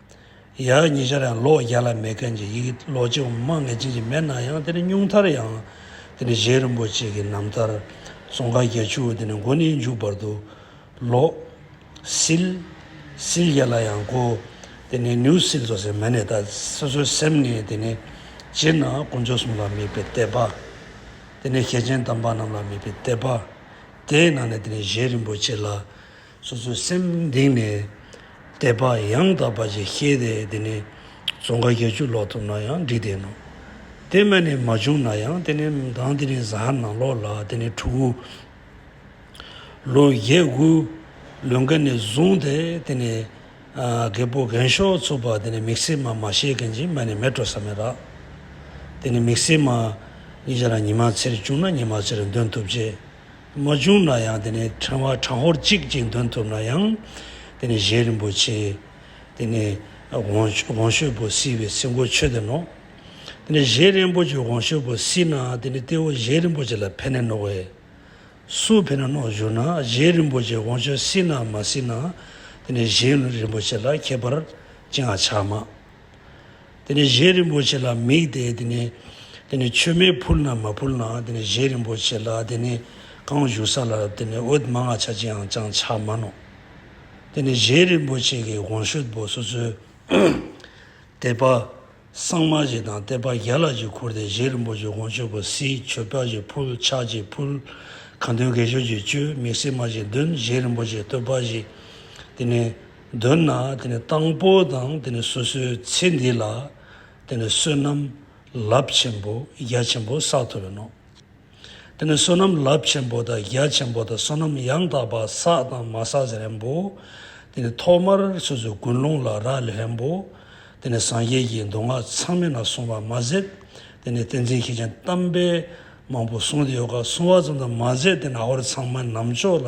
ཡག་ཉེ་ཆར་ཡང་ལོ་བརྒྱ་ལ་མེད་མཁན་གྱི་ཡི་གེ་ལོ་ཅི་འོང་མང་ངེས་ཅན་ཞིག་མེད་ན་ཡང་དེ་ནི་སྙུང་མཐར་ཡང་དེ་ནི་གཞན་རིན་པོ་ཆེ་གི་རྣམ་ཐར་ཙོང་ཁ་བརྒྱ་ཆུ་བོ་དེ་ནི་མགོ་ནས་མཇུག་བར་དུ་ལོ། སིལ། སིལ་བརྒྱ་ལ་ཡང་གོ། དེ་ནི་ནེའུ་སིལ་ཙོ་ཟེར་མ་ནི་ད་སོ་སོའི་སེམས་ནས་དེ་ནི་སྤྱིར་ན་དཀོན་མཆོག་གསུམ་ལ་དམིགས་པའི་དད་པ། དེ་ནི་གལ་ཆེན་དམ་པ་རྣམས་ལ་དམིགས་པའི་དད་པ། དེའི་ནང་ནས་དེ་ནི་གཞན་རིན་པོ་ཆེ་ལ། སོ་སོའི་སེམས་གཏིང་ནས་དད་པ་ཡང་དག་པ་ཞིག་ཤེས་ཏེ་དེ་ནས་ཙོང་ཁ་བརྒྱད་ཅུ་ལོག་ཐུབ་ན་ཡང་འགྲིག་བསྡད་ནོ། དེ་སྨད་ནས་མ་བྱུང་ན་ཡང་དེ་ནས་དང་དེ་ནས་གཟའ་ནང་ལོག་ལ་དེ་ནས་དྲུག་དགུ། ལོ་བརྒྱད་དགུ། ལོན་ཀ་ནས་བཟུང་སྟེ་དེ་ནས་རྒད་པོ་རྒན་ཤོག་ཚོ་པ་དེ་ནས་མིག་སེར་མ་མ་ཤེས་མཁན་གྱི་མལ་ནས་མལ་བྲོ་ས་མེད་ར། དེ་ནས་མིག་སེར་མ། ཉིན་ཞག་ལ་ཉི་མ་ཚེར་བཅུག་ན་ཉི་མ་ཚེར་འདོན་ཐུབ་ཆེད། མ་བྱུང་ན་ཡང་དེ་ནས་ཕྲེང་བ་དྲང་བོར་གཅིག་ཅིག་འདོན་ཐུབ་ན་ཡང། དེ་ནས་གཞན་རིན་པོ་ཆེ། དེ་ནས་དགོངས་ཤོད་པོ་བསིལ་བའི་སྲིན་མགོ་ཆོད་དེ་ནོག། དེ་ནས་གཞན་རིན་པོ་ཆེ་དགོངས་ཤོད་པོ་བསིལ་ན་དེ་ནས་སྟེ་བོ་གཞན་རིན་པོ་ཆེ་ལ་ཕན་ནས་ནོག་བས། སུ་ཕན་ན་ནོག་བཞུགས་ན་གཞན་རིན་པོ་ཆེ་དགོངས་ཤོད་བསིལ་ནམ་མ་བསིལ་ན་དེ་ནས་གཞན་རིན་པོ་ཆེ་ལ་ཁྱད་པར་ཅི་འང་ཆགས་མ། དེ་ནས་གཞན་རིན་པོ་ཆེ་ལ་དམིགས་ཏེ་དེ་ནས་དེ་ནས་མཆོད་མེ་ཕུལ་ན་མ་ཕུལ་ན་དེ་ནས་གཞན་རིན་པོ་ཆེ་ལ་དེ་ནས་གང་བཞུགས་ས་ལ་དེ་ནས་འོད་དམར་ལྔ་ཆ་ཅིའང་ཅང་ཆ་མ་ནོ། དེ་ནས་གཞན་རིན་པོ་ཆེ་གི་དགོངས་ཤུད་པོ་སོ་སོའི་དད་པ། སངས་མ་གཅིག་དང་གཏད་པ་བརྒྱ་ལ་གཅིག་ཁུར་ཏེ་གཞན་རིན་པོ་ཆེ་དགོངས་ཤུད་པོ་སྲིད་མཆོད་པ་གཅིག་ཕུལ་ཕྱག་གཅིག་ཕུལ། གང་འདོད་དགེ་སྦྱོར་གྱི་བཅུད་དམིགས་བསྲེས་མ་གཅིག་འདོན་གཞན་རིན་པོ་ཆེ་བསྟོད་པ་བཞི། དེ་ནས། འདོད་ན་དེ་ནི་དང་པོ་དང་དེ་ནི་སོ་སོའི་ཚེ་འདི་ལ་དེ་ནི་བསོད་ནམས་རླབས་ཆེན་པོ་རྒྱ་ཆེན་པོ་བསགས་ཐུབ་པས་ནོ། དེ་ནི་བསོད་ནམས་རླབས་ཆེན་པོ་དང་རྒྱ་ཆེན་པོ་དང་བསོད་ནམས་ཡང་དག་པ་བསགས་དང་མ་བསགས་ཀྱི་རེན་པོ། དེ་ནི་ཐོག་མར་སོ་སོའི་ཀུན་སློང་ལ་རག་ལས་རེན་པོ། དེ་ནི་སངས་རྒྱས་ཀྱི་མདོ་སྔགས་ཚང་མེད་ན་གསུང་བར་མ་ཟད་དེ་ནི་ཏིང་འཛིན་མཁས་ཅན་གཏམ་དཔེ་མང་པོ་གསུང་དེ་ཡོ་ག་གསུང་བ་ཙམ་དུ་མ་ཟད་དེ་ནི་ཨ་ཧོར་ཚང་མ་ནམ་ཕྱོགས་ལ་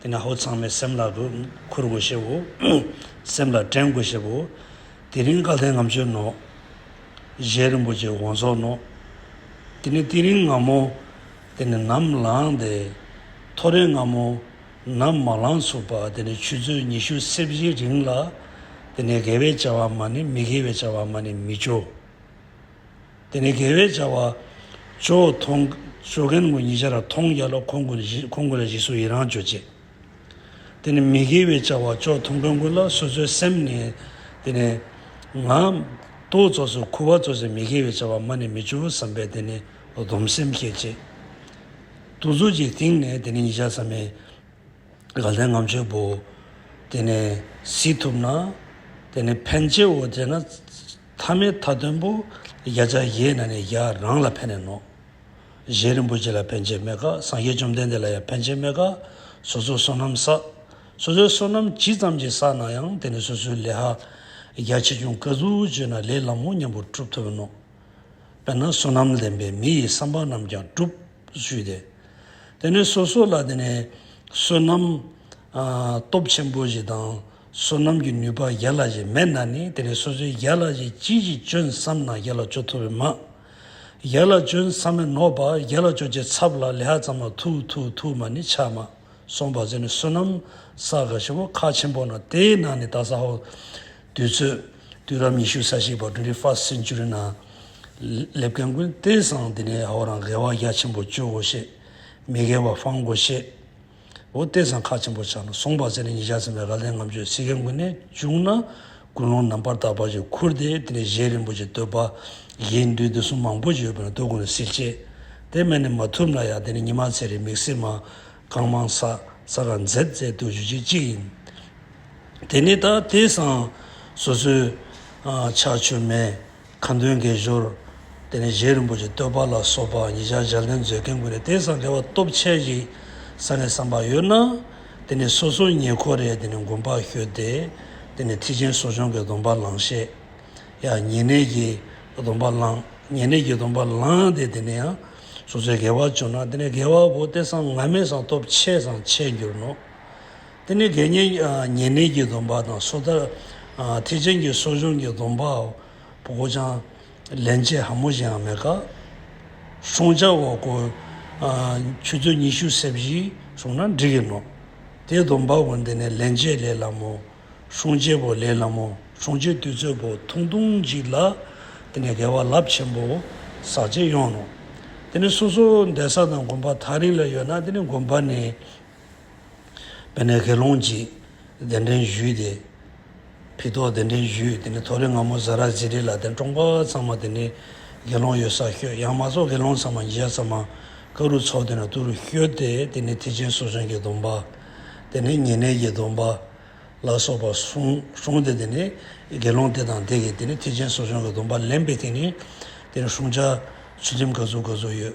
དེ་ནས་ཧཱུྃ་ཚང་མས་སེམས་ལག་ཏུ་ཁུར་དགོས་ཞེས་བོ། སེམས་ལ་དྲན་དགོས་ཞེས་བོ། དེ་རིང་བཀའ་ལྷའི་ངམ་ཆོས་ནོ། གཞན་རིན་པོ་ཆེའི་དགོངས་རྫོགས་ནོ། དེ་ནས་ཏི་རིང་ངམ་མོ། དེ་ནས་ནམ་ལངས་ཏེ། ཐོ་རེངས་ངམ་མོ། ནམ་མ་ལངས་ཚུར་པ་དེ་ནས་ཆུ་ཚོད་ཉི་ཤུ་རྩེ་བཞིའི་རིང་ལ། དེ་ནས་དགེ་བའི་བྱ་བ་མ་ནི་མི་དགེ་བའི་བྱ་བ་མ་ནི་མི་བྱོ། དེ་ནས་དགེ་བའི་བྱ་བ། ཇོ་བོ་ཐོང། ཇོ་རྒན་དགུ་ཉི་བྱ་ར་ཐོང་རྒྱ་ལོ་ཁོང་དགུ་བཞི་ཁོང་དགུ་ལ་བཞི་སུ་ཡི་རང་བྱོ་བྱེད། དེ་ནས་མི་དགེ་བའི་བྱ་བ་ཇོ་ཐོང་དགུན་དགུ་ལ་སོ་སོའི་སེམས་ནི། དེ་ནས། ང། ཏོ་བཙོ་སོ་ཁུ་བ་བཙོ་སའི་མི་དགེ་བའི་བྱ་བ་མ་ནི་མི་ཇོ་བོ་བསམ་པས་དེ་ནི་སྡོམ་སེམས་བསྐྱེད། ཅེས། དུ་བཙོ་བྱའི་སྟེང་ནས་དེ་ནི་ཉི་བྱ་ས་མའི། དགའ་ལྡན་ངམ་ཆོས་པོ། དེ་ནས། སྲིད་ཐུབ་ན། དེ་ནས་ཕན་བྱེད་འོ་བྱེད་ན། ཐ་མའི་མཐའ་བདུན་པོ། བརྒྱ་རྩ་བཞིའི་ནང་ནས་བརྒྱ་རང་ལ་ཕན་ནས་ནོ། བཞེད་རིན་པོ་ཆེ་ལ་ཕན་ཆད་མེད་དགག་སངས་རྒྱས་བཅོམ་ལྡན་འདས་ལ་ཡང་ཕན་ཆད་མེད་དགག། སོ་སོའི་བསོད་ནམས་བསགས། སོ་སོའི་བསོད་ནམས་ཇི་ཙམ་གྱིས་བསགས་ན་ཡང་དེ་ནི་སོ་སོའི་ལས་ཧ། བརྒྱ་ཆེ་ཆུང་ཀ་ཟུར་བརྗོད་ན་ལས་ལམ་མོ་མཉམ་པོར་གྲུབ་ཐུབ་བོ་ནོ། དཔེར་ན་བསོད་ནམས་ལེན་པའི་མི་ཡི་བསམ་པ་རྣམས་ཀྱང་གྲུབ། ཞུས་ཏེ། དེ་ནས་སོ་སོ་ལ་དེ་ནས་བསོད་ནམས། སྟོབས་ཆེན་པོ་བཞི་དང། བསོད་ནམས་ཀྱི་ནུས་པ་ཡར་ལ་ཞིག་མེད་ན་ནི་དེ་ནི་སོ་སོའི་ཡར་ལ་ཞིག་ཅི་ཞིག་སྤྱོད་བསམ་ན་ཡར་ལ་སྤྱོད་ཐུབ་པས་མ། ཡར་ལ་སྤྱོད་བསམ་མེད་ནོ་པ་ཡར་ལ་སྤྱོད་བྱེད་ཚབ་ལ་ལེ་ཧ་ཙམ་ལ་ཐུ་ཐུ་ཐུ་མ་ནི་ཆགས་མ་སོང་བར་ཟད་ནི་བསོད་ནམས་ས་ག་ཞི་བོ་ཁ་ཆེན་པོ་ན་དེའི་ནང་ནི་ད་ས་ཧོ། དུས་ཚོད། དུས་རབས་ཉི་ཤུ་ས་ཤིག་བར Twenty First Century ན་སླེབས་མཁན་ཀུན་བལྟས་སང་དེ་ནས་ཧོ་རང་དགེ་བ་རྒྱ་ཆེན་པོ་སྤྱོད་འོ་ཤེས། མི་དགེ་བ་སྤང་དགོ་ཤེས། འོ་སྟེ་ཚང་ཁ་ཆེན་པོ་ཆགས་ན་སོང་བ་ཟེར་ནས་ཉིན་ཞག་ཚིམ་པའི་ར་ལན་ངམ་ཆོས་ཚིག་གི་མགུལ་ནས་བཅུག་ན་ཀུན་སློང་ནམ་བར་དག་པ་ཞིག་ཁུར་ཏེ་དེ་ནས་གཞན་རིན་པོ་ཆེ་བསྟོད་པ། གཞན་འདུན་འདི་གསུམ་མང་པོ་ཞིག་ཡོད་པས་ན་བསྟོད་དགོངས་ནི་ཟིལ་གཅད། དེ་མེད་ནས་མ་ཐུབ་ན་ཡང་དེ་ནས་ཉི་མ་ཚེ་རིང་མིག་སེར་མ། རྐང་མང་ས་ས་ར་མཛེས་བཙལ་བསྟོད་ཞུ་བྱེད་གཅིག་ཡིན། དེ་ནས་ད་དེ་སང་སོ་སོའི། ཆགས་ཆོས་མེད། མཁའ་འགྲོའི་འགེལ་ཞོར་དེ་ནས་རྗེ་རིན་པོ་ཆེ་བསྟོད་པ་ལ་སོགས་པ་ཉིས་ཆར་ལྗགས་ལན་མཛོད་མཁན་ཀུན་རེ་ལྟས་སམ་དེ་བ་སྟོབས་ཆེ་ཞིག་ས་ནས་བསམ་པ་ཡོད་ན། དེ་ནས་སོ་སོའི་ཉེ་འཁོར་རེ་དེ་ནས་མགོན་པ་ཤོད་དེ། དེ་ནས་ཁྲི་ཆེན་གསོ་སྦྱོང་གི་སྡོམ་པ་བླང་ཤེས། ཡང་ཉེ་གནས་ཀྱི་སྡོམ་པ་བླང། ཉེ་གནས་ཀྱི་སྡོམ་པ་བླངས་ཏེ་དེ་ནས་ཡང་སོ་སོའི་དགེ་བ་བྱུང་ན་དེ་ནས་དགེ་བ་བོ་ལྟས་སམ་ང་མས་སམ་སྟོབས་ཆེ་སམ་ཆེ་འགྱུར་ནོ། དེ་ནི་དགེ་བསྙེན་ཉེ་གནས་ཀྱི་སྡོམ་པ་དང་སོ་ཐར་ཐེག་ཆེན་གྱི་གསོ་སྦྱོང་གི་སྡོམ་པའོ། ཅང་ལེན་བྱེད་ཧ་མོ་ཞིགའང་མེད་ཀ། ཤོང་བྱ་འོ་སྐོལ། ཆུ་ཚོད་ཉི་ཤུ་ཟད་བཞི་བྱུང་ན་འགྲིག་གིན་ནོ། དེའི་སྡོམ་པ་བོ་འདི་ནི་ལེན་བྱེད་ལས་སླ་མོ། ཤོང་བྱེད་བོ་ལས་སླ་མོ་ཤོང་བྱེད་དུས་ཚོད་བོ་ཐུང་ཐུང་ཅིག་ལ། དེ་ནི་དགེ་བ་རླབས་ཆེན་པོ་ཟག་བྱེད་ཡོང་ནོ། དེ་ནི་སོ་སོ་འདས་ས་དང་དགོན་པ་ཐག་རིང་ལ་ཡོད་ན་དེ་ནི་དགོན་པ་ནི། དཔལ་ནཱལ་ཁའི་ལུང་གཅིག་གདན་འདྲེན་བཞུགས་ཏེ། བི་ཏོག་གདན་འདྲེན་བཞུགས་དེ་ནས་ཐོ་རེངས་སྔ་མོ་བཟའ་རག་ཟི་རི་ལ་གདན་དྲོངས་པ་ཚང་མ་དེ་ནས་དགེ་སློང་ཡོད་སར་བསྐྱོད་ཡང་མ་རྫོགས་དགེ་སློང་ཚང་མ་ཉིས་བརྒྱ་ཙམ་ཀ་རུ་ཚོགས་དེ་ན་ཏུ་རུ་བསྐྱོད་དེ་དེ་ནས་ཐེག་ཆེན་སོ་བྱང་གི་སྡོམ་པ། དེ་ནས་ཉེ་གནས་ཀྱི་སྡོམ་པ། ལ་སོགས་པ་གསུངས་ཏེ་དེ་ནས་དགེ་སློང་དེ་དང་དེ་གིས་དེ་ནས་ཐེག་ཆེན་སོ་བྱང་གི་སྡོམ་པ་ལེན་པས་དེ་ནས་དེ་ནས་བསྲུང་བྱ་ཚུལ་ཁྲིམས་ག་ཚུལ་ག་ཚུལ་ཡོད་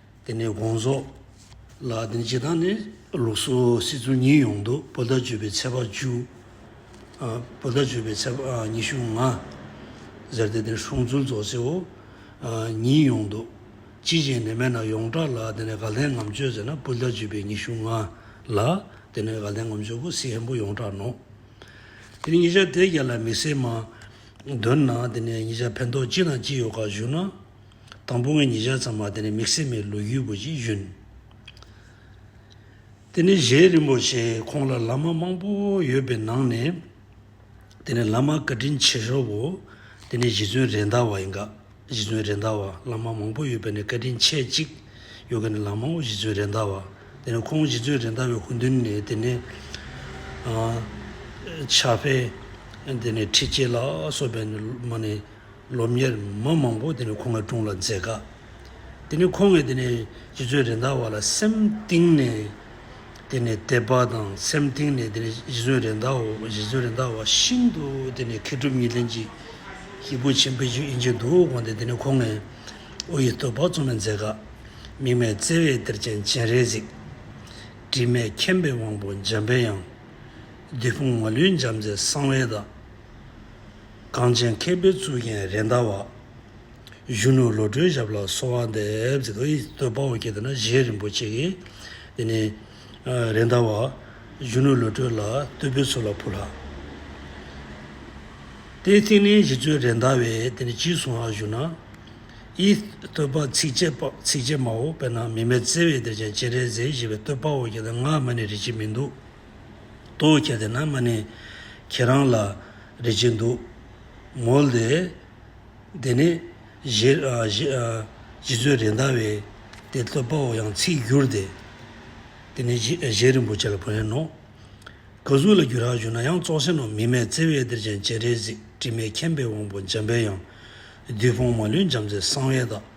དེ་ནས་དགོངས་རྫོགས། ལ་དེ་ནས་སྤྱི་དང་ནི། ལུགས་སུ་སྲིད་ཚུལ་གཉིས་ཡོངས་འདུ་བོ་ད་བརྗོད་པའི་ཚད་པ་བཅུ། བོ་ད་བརྗོད་པའི་ཚད་པ་ཉི་ཤུ་ལྔ། ཟེར་ཏེ་དེ་ནས་ཧྲོང་ཚུལ་རྫོགས་ཚེའོ། གཉིས་ཡོངས་འདུ། ཅི་བྱས་ནས་སྨྲས་ན་ཡོངས་གྲགས་ལ་དེ་ནས་ག་ལྷའི་ངམ་སྤྱོད་ཟེར་ན་བོ་ད་བརྗོད་པའི་ཉི་ཤུ་ལྔ། ལ་དེ་ནས་ག་ལྷའི་ངམ་སྤྱོད་ཀུན་གཟིགས་ཧན་པོ་ཡོངས་གྲགས་ནོ། དེ་ནས་ཉིས་ཆ་དེ་བརྒྱད་ལ་མི་སེར་མ། འདོད་ན་དེ་ནས་ཉིས་ཆ་ཕན་ཐོགས་ཅི་དང་ཅི་ཡོད་ཁ་བཞུགས་ན། དང་པོ་ངས་ཉིས་ཆ་ཙམ་མ་དེ་ནས་མིག་སེར་མའི་ལོ་རྒྱུས་པོ་ཅིག་བཞོན། དེ་ནས་གཞན་རིན་པོ་ཆེ་ཁོང་ལ་ལ་མ་མང་པོ་ཡོད་པའི་ནང་ནས་དེ་ནས་ལ་མ་བཀའ་དྲིན་ཆེ་ཤོས་བོ་དེ་ནས་གཞི་ཚུན་རེད་འདའ་བ་ཡིན་ག་གཞི་ཚུན་རེད་འདའ་བ་ལ་མ་མང་པོ་ཡོད་པའི་ནས་བཀའ་དྲིན་ཆེ་གཅིག་ཡོད་ག་ནས་ལ་མ་འོ་གཞི་ཚུན་རེད་འདའ་བ་དེ་ནས་ཁོང་གཞི་ཚུན་རེད་འདའ་བའི་ཧུན་དུན་ནས་དེ་ནས་ཆ་ཕེ་དེ་ནས་ཁྲི་སྐྱེས་ལགས་སོགས་པའི་ནས་ལ་མ་ནས་ལོ་ཉེར་མ་མང་པོ་དེ་ནི་ཁོང་གི་དྲུང་ལ་མཛད་དཀའ། དེ་ནི་ཁོང་གིས་དེ་ནི་སྤྱི་ཚོགས་རིན་ཐང་བ་ལ་སེམས་གཏིང་ནས་དེ་ནི་དད་པ་དང་སེམས་གཏིང་ནས་དེ་ནི་སྤྱི་ཚོགས་རིན་ཐང་སྤྱི་ཚོགས་རིན་ཐང་བ་ཤིན་ཏུ་དེ་ནི་མཁས་གྲུབ་གཉིས་ལྡན་གྱི་སྐྱེས་བུ་ཆེན་པོ་ཞིག་ཡིན་གྱི་འདུག་དགོངས་ཏེ་དེ་ནི་ཁོང་ངའི་དབུ་ཡི་སྟོད་ཕག་ཚོ་ནས་མཛད་དཀའ། མིག་མེད་བརྩེ་བའི་གཏེར་ཆེན་སྤྱན་རས་གཟིགས། དྲི་མེད་མཁྱེན་པའི་དབང་པོ་འཇམ་པའི་དབྱངས། བདུད་དཔུང་མ་ལུས་འཇམ་མཛད་གསང་བའི་བདག། གངས་ཅན་མཁས་པའི་གཙུག་རྒྱན་རེད་མདའ་བ། གཞོན་ནུ་བློ་གྲོས་ཞབས་ལ་གསོལ་བ་འདེབས། དཔའ་བོ་སྐྱེ་དེ་ན་བཞེས་རིན་པོ་ཆེ་ཡི། དེ་ནས་རེད་མདའ་བ། གཞོན་ནུ་བློ་གྲོས་ལ་བསྟོད་པའི་ཚུལ་ལ་ཕུལ་ལགས། དེའི་ཐིག་ལེའི་གཞི་མཛོད་རེད་མདའ་བས་དེ་ནས་གྱིས་གསུང་ལགས་ཞུ་ན། ཡི། བསྟོད་པ་ཚིགས་བཅད་མའོ་དཔེར་ན་མི་མེད་བརྩེ་བའི་སྡེར་ཆེན་སྤྱན་རས་གཟིགས་ཞེས་པའི་བསྟོད་དཔའ་བོ་སྐྱེ་དེ་སྔ་མ་ནས་རིག་གཅིག་མི་འདུག། ཏོ། ཁྱེད་དེ་ན་མ་ནི་ཁྱེད་རང་ལ་རེ་ཅིག་འདུག། མོ་ལེ། དེ་ནི་བཞི། བཞི་ཚོད་རེ་འདའ་བས་དེ་བསྟོད་པའོ་ཡང་ཚིག་བསྒྱུར་ཏེ། དེ་ནི་བཞི་རིན་པོ་ཆེ་ལ་བོན་ཡིན་ནོ། ག་གཟུགས་ལ་བསྒྱུར་རག་བྱུང་ན་ཡང་བཙོག་ཆེན་ནོ་མི་མེད་བརྩེ་བས་གཏེར་ཆེན་སྤྱན་རས་གཟིགས་དྲི་མེད་མཁྱེན་པའི་དབང་པོ་འཇམ་དཔལ་ཡང། བདུད་དཔུང་མ་ལུས་འཇམ་མཛད་གསང་བའི་བདག།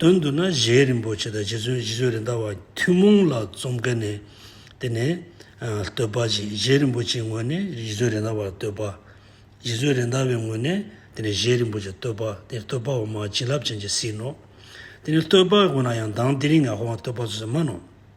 དོན་བསྡུ་ན་གཞན་རིན་པོ་ཆེ་དང་རྗེ་བཙུན་བཞི་བཅུ་རེ་འདའ་བ་ཐུན་མོང་ལ་རྩོམ་དཀའི་ནས་དེ་ནས་བསྟོད་པ་བཞིན་གཞན་རིན་པོ་ཆེའི་ངོས་ནས་རྗེ་བཙུན་རེ་འདའ་བར་བསྟོད་པ། རྗེ་བཙུན་རེ་འདའ་བའི་ངོས་ནས་དེ་ནས་གཞན་རིན་པོ་ཆེར་བསྟོད་པ་དེ་ནི་བསྟོད་པ་འོག་མ་བྱིན་རླབས་ཅན་གྱི་ཟིན་ནོ། དེ་ནི་བསྟོད་པ་དགོས་ན་ཡང་མདངས་དེ་རིང་ངག་དབང་བསྟོད་པ་ཚུལ་བཟང་མ་ནོ།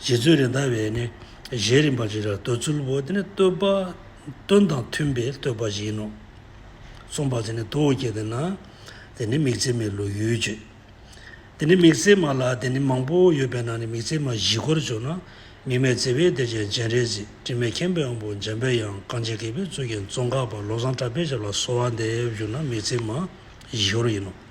རྗེ་བཙུན་རེད་མདའ་བས་ནི་གཞན་རིམ་པ་ཅིག་ལ་བསྟོད་ཚུལ་བོ་དེ་ནི་བསྟོད་པ་དོན་དང་མཐུན་པའི་བསྟོད་པ་ཞིག་ཡིན་ནོ། གསུངས་པ་དེ་ནི་དུ་བོ་སྐྱེ་དེ་ན་དེ་ནི་མིག་མཚན་མའི་ལུས་ཡོད་ཅེས། དེ་ནི་མིག་མཚན་མ་ལ་དེ་ནི་མང་པོ་ཡོད་པས་ན་ནི་མིག་མཚན་མ་བཞི་སྐོར་བྱུང་ན་མིག་མེད་བརྩེ་བས་དེ་ཅན་སྤྱན་རས་གཟིགས་དྲི་མེད་མཁྱེན་པའི་དབང་པོ་འཇམ་པའི་དབྱངས་རྐང་རྗེ་མཁས་པའི་གཙུག་རྒྱན་ཙོང་ཁ་པ་བློ་བཟང་གྲགས་པའི་ཞབས་ལ་གསོལ་བ་འདེབས་གྱུར་ན་མིག་མཚན་མ་བཞི་སྐོར་ཡིན་ནོ།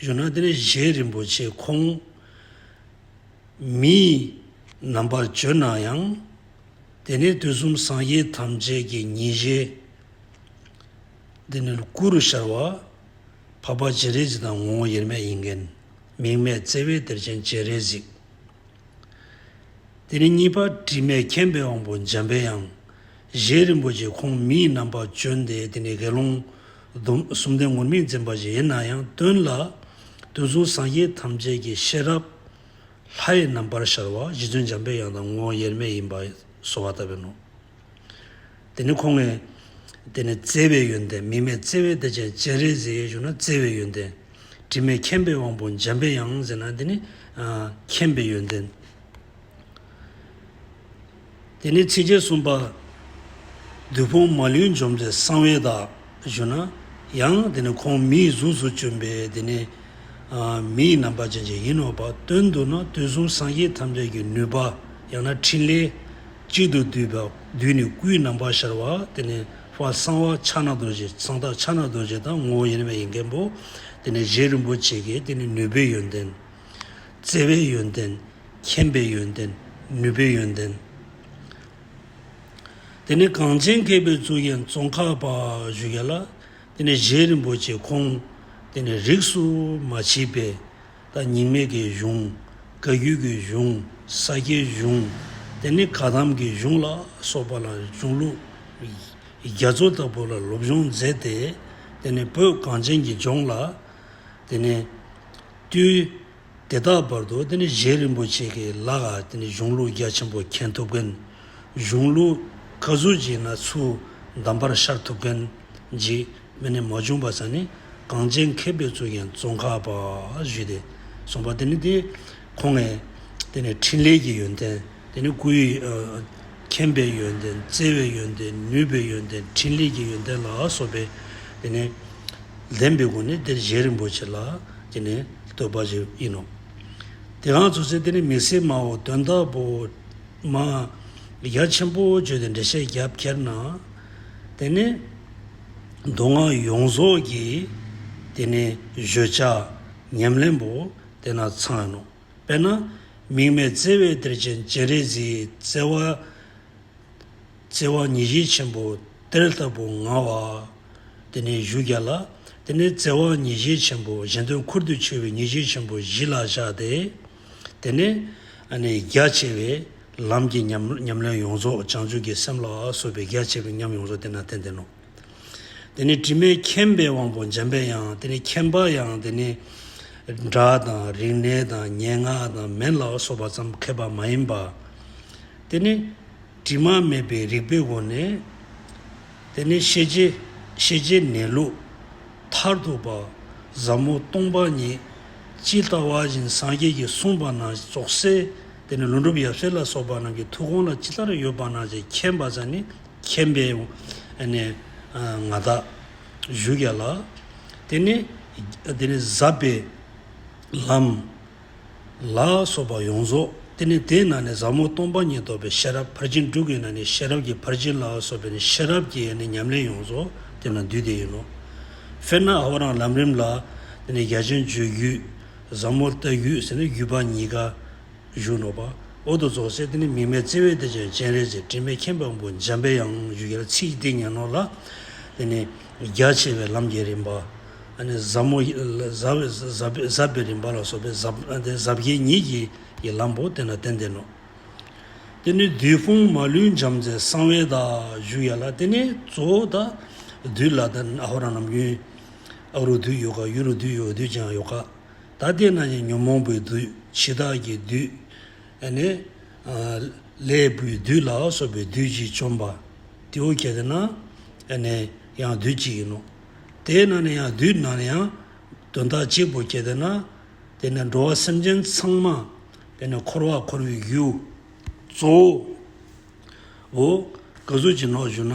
ཡོ་ན་ཏན་གཞན་རིན་པོ་ཆེ་ཁོང་མིས་རྣམ་པར་བརྗོད་ན་ཡང། དེ་ནས་དུས་གསུམ་སངས་རྒྱས་ཐམས་ཅད་ཀྱི་ཉིན་བཞི། འདི་ནི་ཀུ་རུ་ཤར་བ། འཕགས་པ་སྤྱན་རས་གཟིགས་དང་ངོ་བོ་དབྱེར་མེད་དབྱིངས་མཁན། མིང་མེད་བརྩེ་བའི་གཏེར་ཆེན་སྤྱན་རས་གཟིགས། དེ་ནས་གཉིས་པ་དྲི་མེད་མཁྱེན་པའི་དབང་པོ་འཇམ་པའི་དབྱངས་གཞན་རིན་པོ་ཆེ་ཁོང་མིས་རྣམ་པར་བརྗོད་དེ་དེ་ནས་དགེ་སློང། སྡོམ་གསུམ་ལྡན་ངུར་སྨྲིག་འཛིན་པ་བཞི་ཡིན་ན་ཡང་སྟོན་ལ། དུས་གསུམ་སངས་རྒྱས་ཐམས་ཅད་ཀྱི་ཤེས་རབ། ལྷའི་རྣམ་པར་ཤར་བ་གཞི་མཚོན་འཇམ་པའི་དབྱངས་དང་ངོ་བོ་དབྱེར་མེད་ཡིན་པ་གསོལ་བ་བཏབ་པས་ནོ། དེ་ནི་ཁོང་ངེ། དེ་ནི་བརྩེ་བའི་ཡོན་ཏན་མིག་མེད་བརྩེ་བའི་བདེ་ཆེན་སྤྱན་རས་གཟིགས་ཡེ་ཤུ་ན་བརྩེ་བའི་ཡོན་ཏན། དྲི་མེད་མཁྱེན་པའི་དབང་པོ་འཇམ་པའི་དབྱངས་ཟེར་ན་དེ་ནི། མཁྱེན་པའི་ཡོན་ཏན། དེ་ནས་ཚིགས་བཅད་གསུམ་པ། བདུད་ཕོངས་མ་ལུས་འཇོམས་མཛད་གསང་བའི་བདག། ཞུ་ན། ཡང་དེ་ནས་ཁོང་མི་ཡི་གཟུགས་སུ་བྱོན་པས་དེ་ནས། མི་ཡི་རྣམ་པར་ཅན་ཅིག་ཡིན་ནོ། བ་དོན་དུ་ན་དུས་གསུམ་སངས་རྒྱས་ཐམས་ཅད་ཀྱི་ནུས་པ། ཡང་ན་ཕྲིན་ལས། གཅིག་ཏུ་བསྡུས་པ། བདུད་ནི་སྐུའི་རྣམ་པར་ཤར་བ། དེ་ནས་བ་གསང་བ་ཕྱག་ན་རྡོ་རྗེ་གསང་བདག་ཕྱག་ན་རྡོ་རྗེ་དང་ངོ་བོ་ཡེ་ནས་མེད་ཡིན་མཁན་པོ། དེ་ནས་རྗེ་རིན་པོ་ཆེ་ཀྱེ་དེ་ནི་ནུས་པའི་ཡོན་ཏན། བརྩེ་བའི་ཡོན་ཏན། མཁྱེན་པའི་ཡོན་ཏན། ནུས་པའི་ཡོན་ཏན། དེ་ནས་གངས་ཅན་མཁས་པའི་གཙུག་གཡེང་ཙོང་ཁ་པ་བཞུགས་ཡ་ལ། དེ་ནས་གཞན་རིན་པོ་ཆེ་ཁོང། དེ་ནས་རིགས་སུ་མ་མཆིས་པའི། ད་ཉིང་མེད་ཀྱི་གཞུང། བཀའ་བརྒྱུད་ཀྱི་གཞུང། ས་སྐྱའི་གཞུང། དེ་ནས་ག་དམ་གྱི་གཞུང་ལ་སོགས་པ་ལ་གཞུང་ལུགས་རྒྱ་མཚོ་ལྟ་བུ་ལ་སློབ་སྦྱོང་མཛད་དེ། དེ་ནས་བོད་གངས་ཅན་གྱི་ལྗོངས་ལ། དེ་ནས། བཏུལ། དེ་དག་བར་དུ་གཞན་རིན་པོ་ཆེ་གི་ལག་གཞུང་ལུགས་རྒྱ་ཆེན་པོ་མཁྱེན་ཐུབ་མཁན། གཞུང་ལུགས་བཀའ་ཟུར་གྱི་ན་ཚུལ་གདམས་པར་ཤར་ཐུབ་མཁན་གྱི་མི་ནི་མ་བྱུང་བ་ཙམ་ནི་གངས་ཅན་མཁས་པའི་གཙུག་རྒྱན་ཙོང་ཁ་པ་ཞུས་ཏེ་གསུངས་པ་དེ་ནི་ཁོང་ངའི་འཕྲིན་ལས་ཀྱི་ཡོན་ཏན། དེ་ནི་སྐུའི་མཁྱེན་པའི་ཡོན་ཏན་བརྩེ་བའི་ཡོན་ཏན་ནུས་པའི་ཡོན་ཏན་ཕྲིན་ལས་ཀྱི་ཡོན་ཏན་ལ་སོགས་པས་དེ་ནི་ལྡན་པའི་སྒོ་ནས་དེར་གཞན་རིན་པོ་ཆེ་ལ་དེ་ནི་བསྟོད་པ་ཞིག་ཡིན་ནོ། དེའང་བརྫུ་ཚེ་དེ་ནི་མི་སྲིད་མའོ་དོན་དག་པོ། མ། རྒྱ་ཆེན་པོ་བརྗོད་དེ་འགྲེལ་བཤད་རྒྱབ་ཁྱེར་ན། དེ་ནི་མདོ་སྔགས་ཡོངས་རྫོགས་ཀྱི་དེ་ནི་བརྗོད་བྱ་ཉམས་ལེན་པོ་དེ་ན་ཚང་ཡིན་ནོ། དཔེར་ན། མིག་མེད་བརྩེ་བའི་གཏེར་ཆེན་སྤྱན་རས་གཟིགས། བརྩེ་བ་ཉིད་བཞི་ཆེན་པོའི་གཏེར་ལྟ་བུ་མངའ་བ། དེ་ནས་གཞུ་བརྒྱ་ལ། དེ་ནས་བརྩེ་བ་ཉིད་བཞི་ཆེན་པོ་གཞན་དོན་ཁུར་དུ་ཆུད་པའི་ཉིད་བཞི་ཆེན་པོ་བཞི་ལ་བཞག་སྟེ། དེ་ནས་རྒྱ་ཆེ་བའི་ལམ་གྱི་ཉམས་ལེན་ཡོངས་རྫོགས་བྱང་ཆུབ་ཀྱི་སེམས་ལ་སོགས་པའི་རྒྱ་ཆེ་བའི་ཉམས་ཡོངས་རྫོགས་དེ་ན་ཏན་ཏན་ནོ། དེ་ནི་དྲི་མེད་མཁྱེན་པའི་དབང་པོ་འཇམ་པའི་དབྱངས་དེ་ནི་མཁྱེན་པ་ཡང་དེ་ནི་སྒྲ་དང་རིག་གནས་དང་སྙན་ངག་དང་མན་ལ་སོགས་པ་ཙམ་མཁས་པ་མ་ཡིན་པ། དེ་ནི་དྲི་མ་མེད་པའི་རིག་པའི་སྒོ་ནས་དེ་ནི་ཤེས་བྱའི་ཤེས་བྱའི་གནས་ལུགས་མཐར་ཐུག་པ། ཟབ་མོ་སྟོང་པ་ཉིད་ཇི་ལྟ་བ་བཞིན་སངས་རྒྱས་ཀྱིས་གསུངས་པ་ན་རྫོགས་སའི་དེ་ནི་ལུང་སྒྲུབ་ཡབ་སྲས་ལ་སོགས་པ་རྣམས་ཀྱི་ཐུགས་དགོངས་ལ་ཅི་ལྟར་ཡོད་པ་ན་ཅེས་མཁྱེན་པ་ཙམ་ནི་མཁྱེན་པའི་ང་བདག་བཞུགས་ཀྱང་ལགས། དེ་ནས་དེ་ནས་ཟབ་པའི་ལམ་ལ་སོགས་པ་ཡོངས་རྫོགས་དེ་ནས་དེ་ན་ནི་ཟབ་མོ་སྟོང་པ་ཉིད་རྟོགས་པའི་ཤེས་རབ་ཕར་ཕྱིན་དྲུག་གི་ན་ནི་ཤེས་རབ་ཀྱི་ཕར་ཕྱིན་ལ་སོགས་པའི་ནི་ཤེས་རབ་ཀྱི་ཉམས་ལེན་ཡོངས་རྫོགས་དེ་ན་འདུས་དེ་ཡིན་ནོ། དཔེར་ན་ཧོ་རང་ལམ་རིམ་ལ་དེ་ནི་རྒྱ་ཆེན་བརྗོད་རྒྱུད་ཟབ་མོར་བལྟ་རྒྱུད་ཟེར་ན་བརྒྱུད་པ་གཉིས་ཀ། གཞུང་ནོར་བ། འོག་ཏུ་རྫོགས་ཚེ་འདི་ནི་མིག་མེད་བརྩེ་བས་བདེ་ཆེན་སྤྱན་རས་གཟིགས་སྤྲིན་པའི་མཁྱེན་པ་པོ་འཇམ་པའི་ཡང་བཞུགས་ཡར་ཚེས་ཏིང་ངེ་ནོར་ལ། དེ་ནས་རྒྱ་ཆེ་བའི་ལམ་བརྒྱད་རིམ་པ། ཟབ་མོ་ཟབ་པའི་རིམ་པ་ལ་སོགས་པའི་ཟབ་བརྒྱད་ཉིད་ཀྱི་ཡི་ལམ་བོ་དེ་ལ་རྟེན་བརྟེན་ནོ། དེ་ནས་བདུད་དཔུང་མ་ལུས་འཇམ་མཛད་གསང་བའི་བདག། བཞུགས་ཡར་ལ་དེ་ནས་གཙོ་བོ་བདག། བདུད་ལ་ཨ་ཧོ་ར་ནམ་རྒྱུན། ཨ་རུ་བདུད་ཡོ་ག་གཡུ་རུ་བདུད་ཡོ་བདུད་ཅན་ཨ་ཡོ་ག། ད་ལྟས་ན་ནི་ཉོན་མོངས་པའི་བདུད་འཆི་བདག་གི་བདུད། ནས། ལས་སྤུའི་བདུད་ལ་སོགས་པའི་བདུད་ཀྱིས་བཅོམ་པ། དེའོ་གལ་ཏེ་ན། ནས། ཡང་བདུད་གཅིག་ཡིན་ནོ། དེས་ན་ནི་ཡང་བདུད་ན་ནི་ཡང། དོན་དག་གཅིག་པོ་གལ་ཏེ་ན། དེ་ནས་འགྲོ་བ་སེམས་ཅན་ཚང་མ། ནས་འཁོར་བར་འཁོར་བའི་རྒྱུའོ། གཙོ་བོ། བོ། གཟུགས་ཀྱི་ནོར་བཞུགས་ན།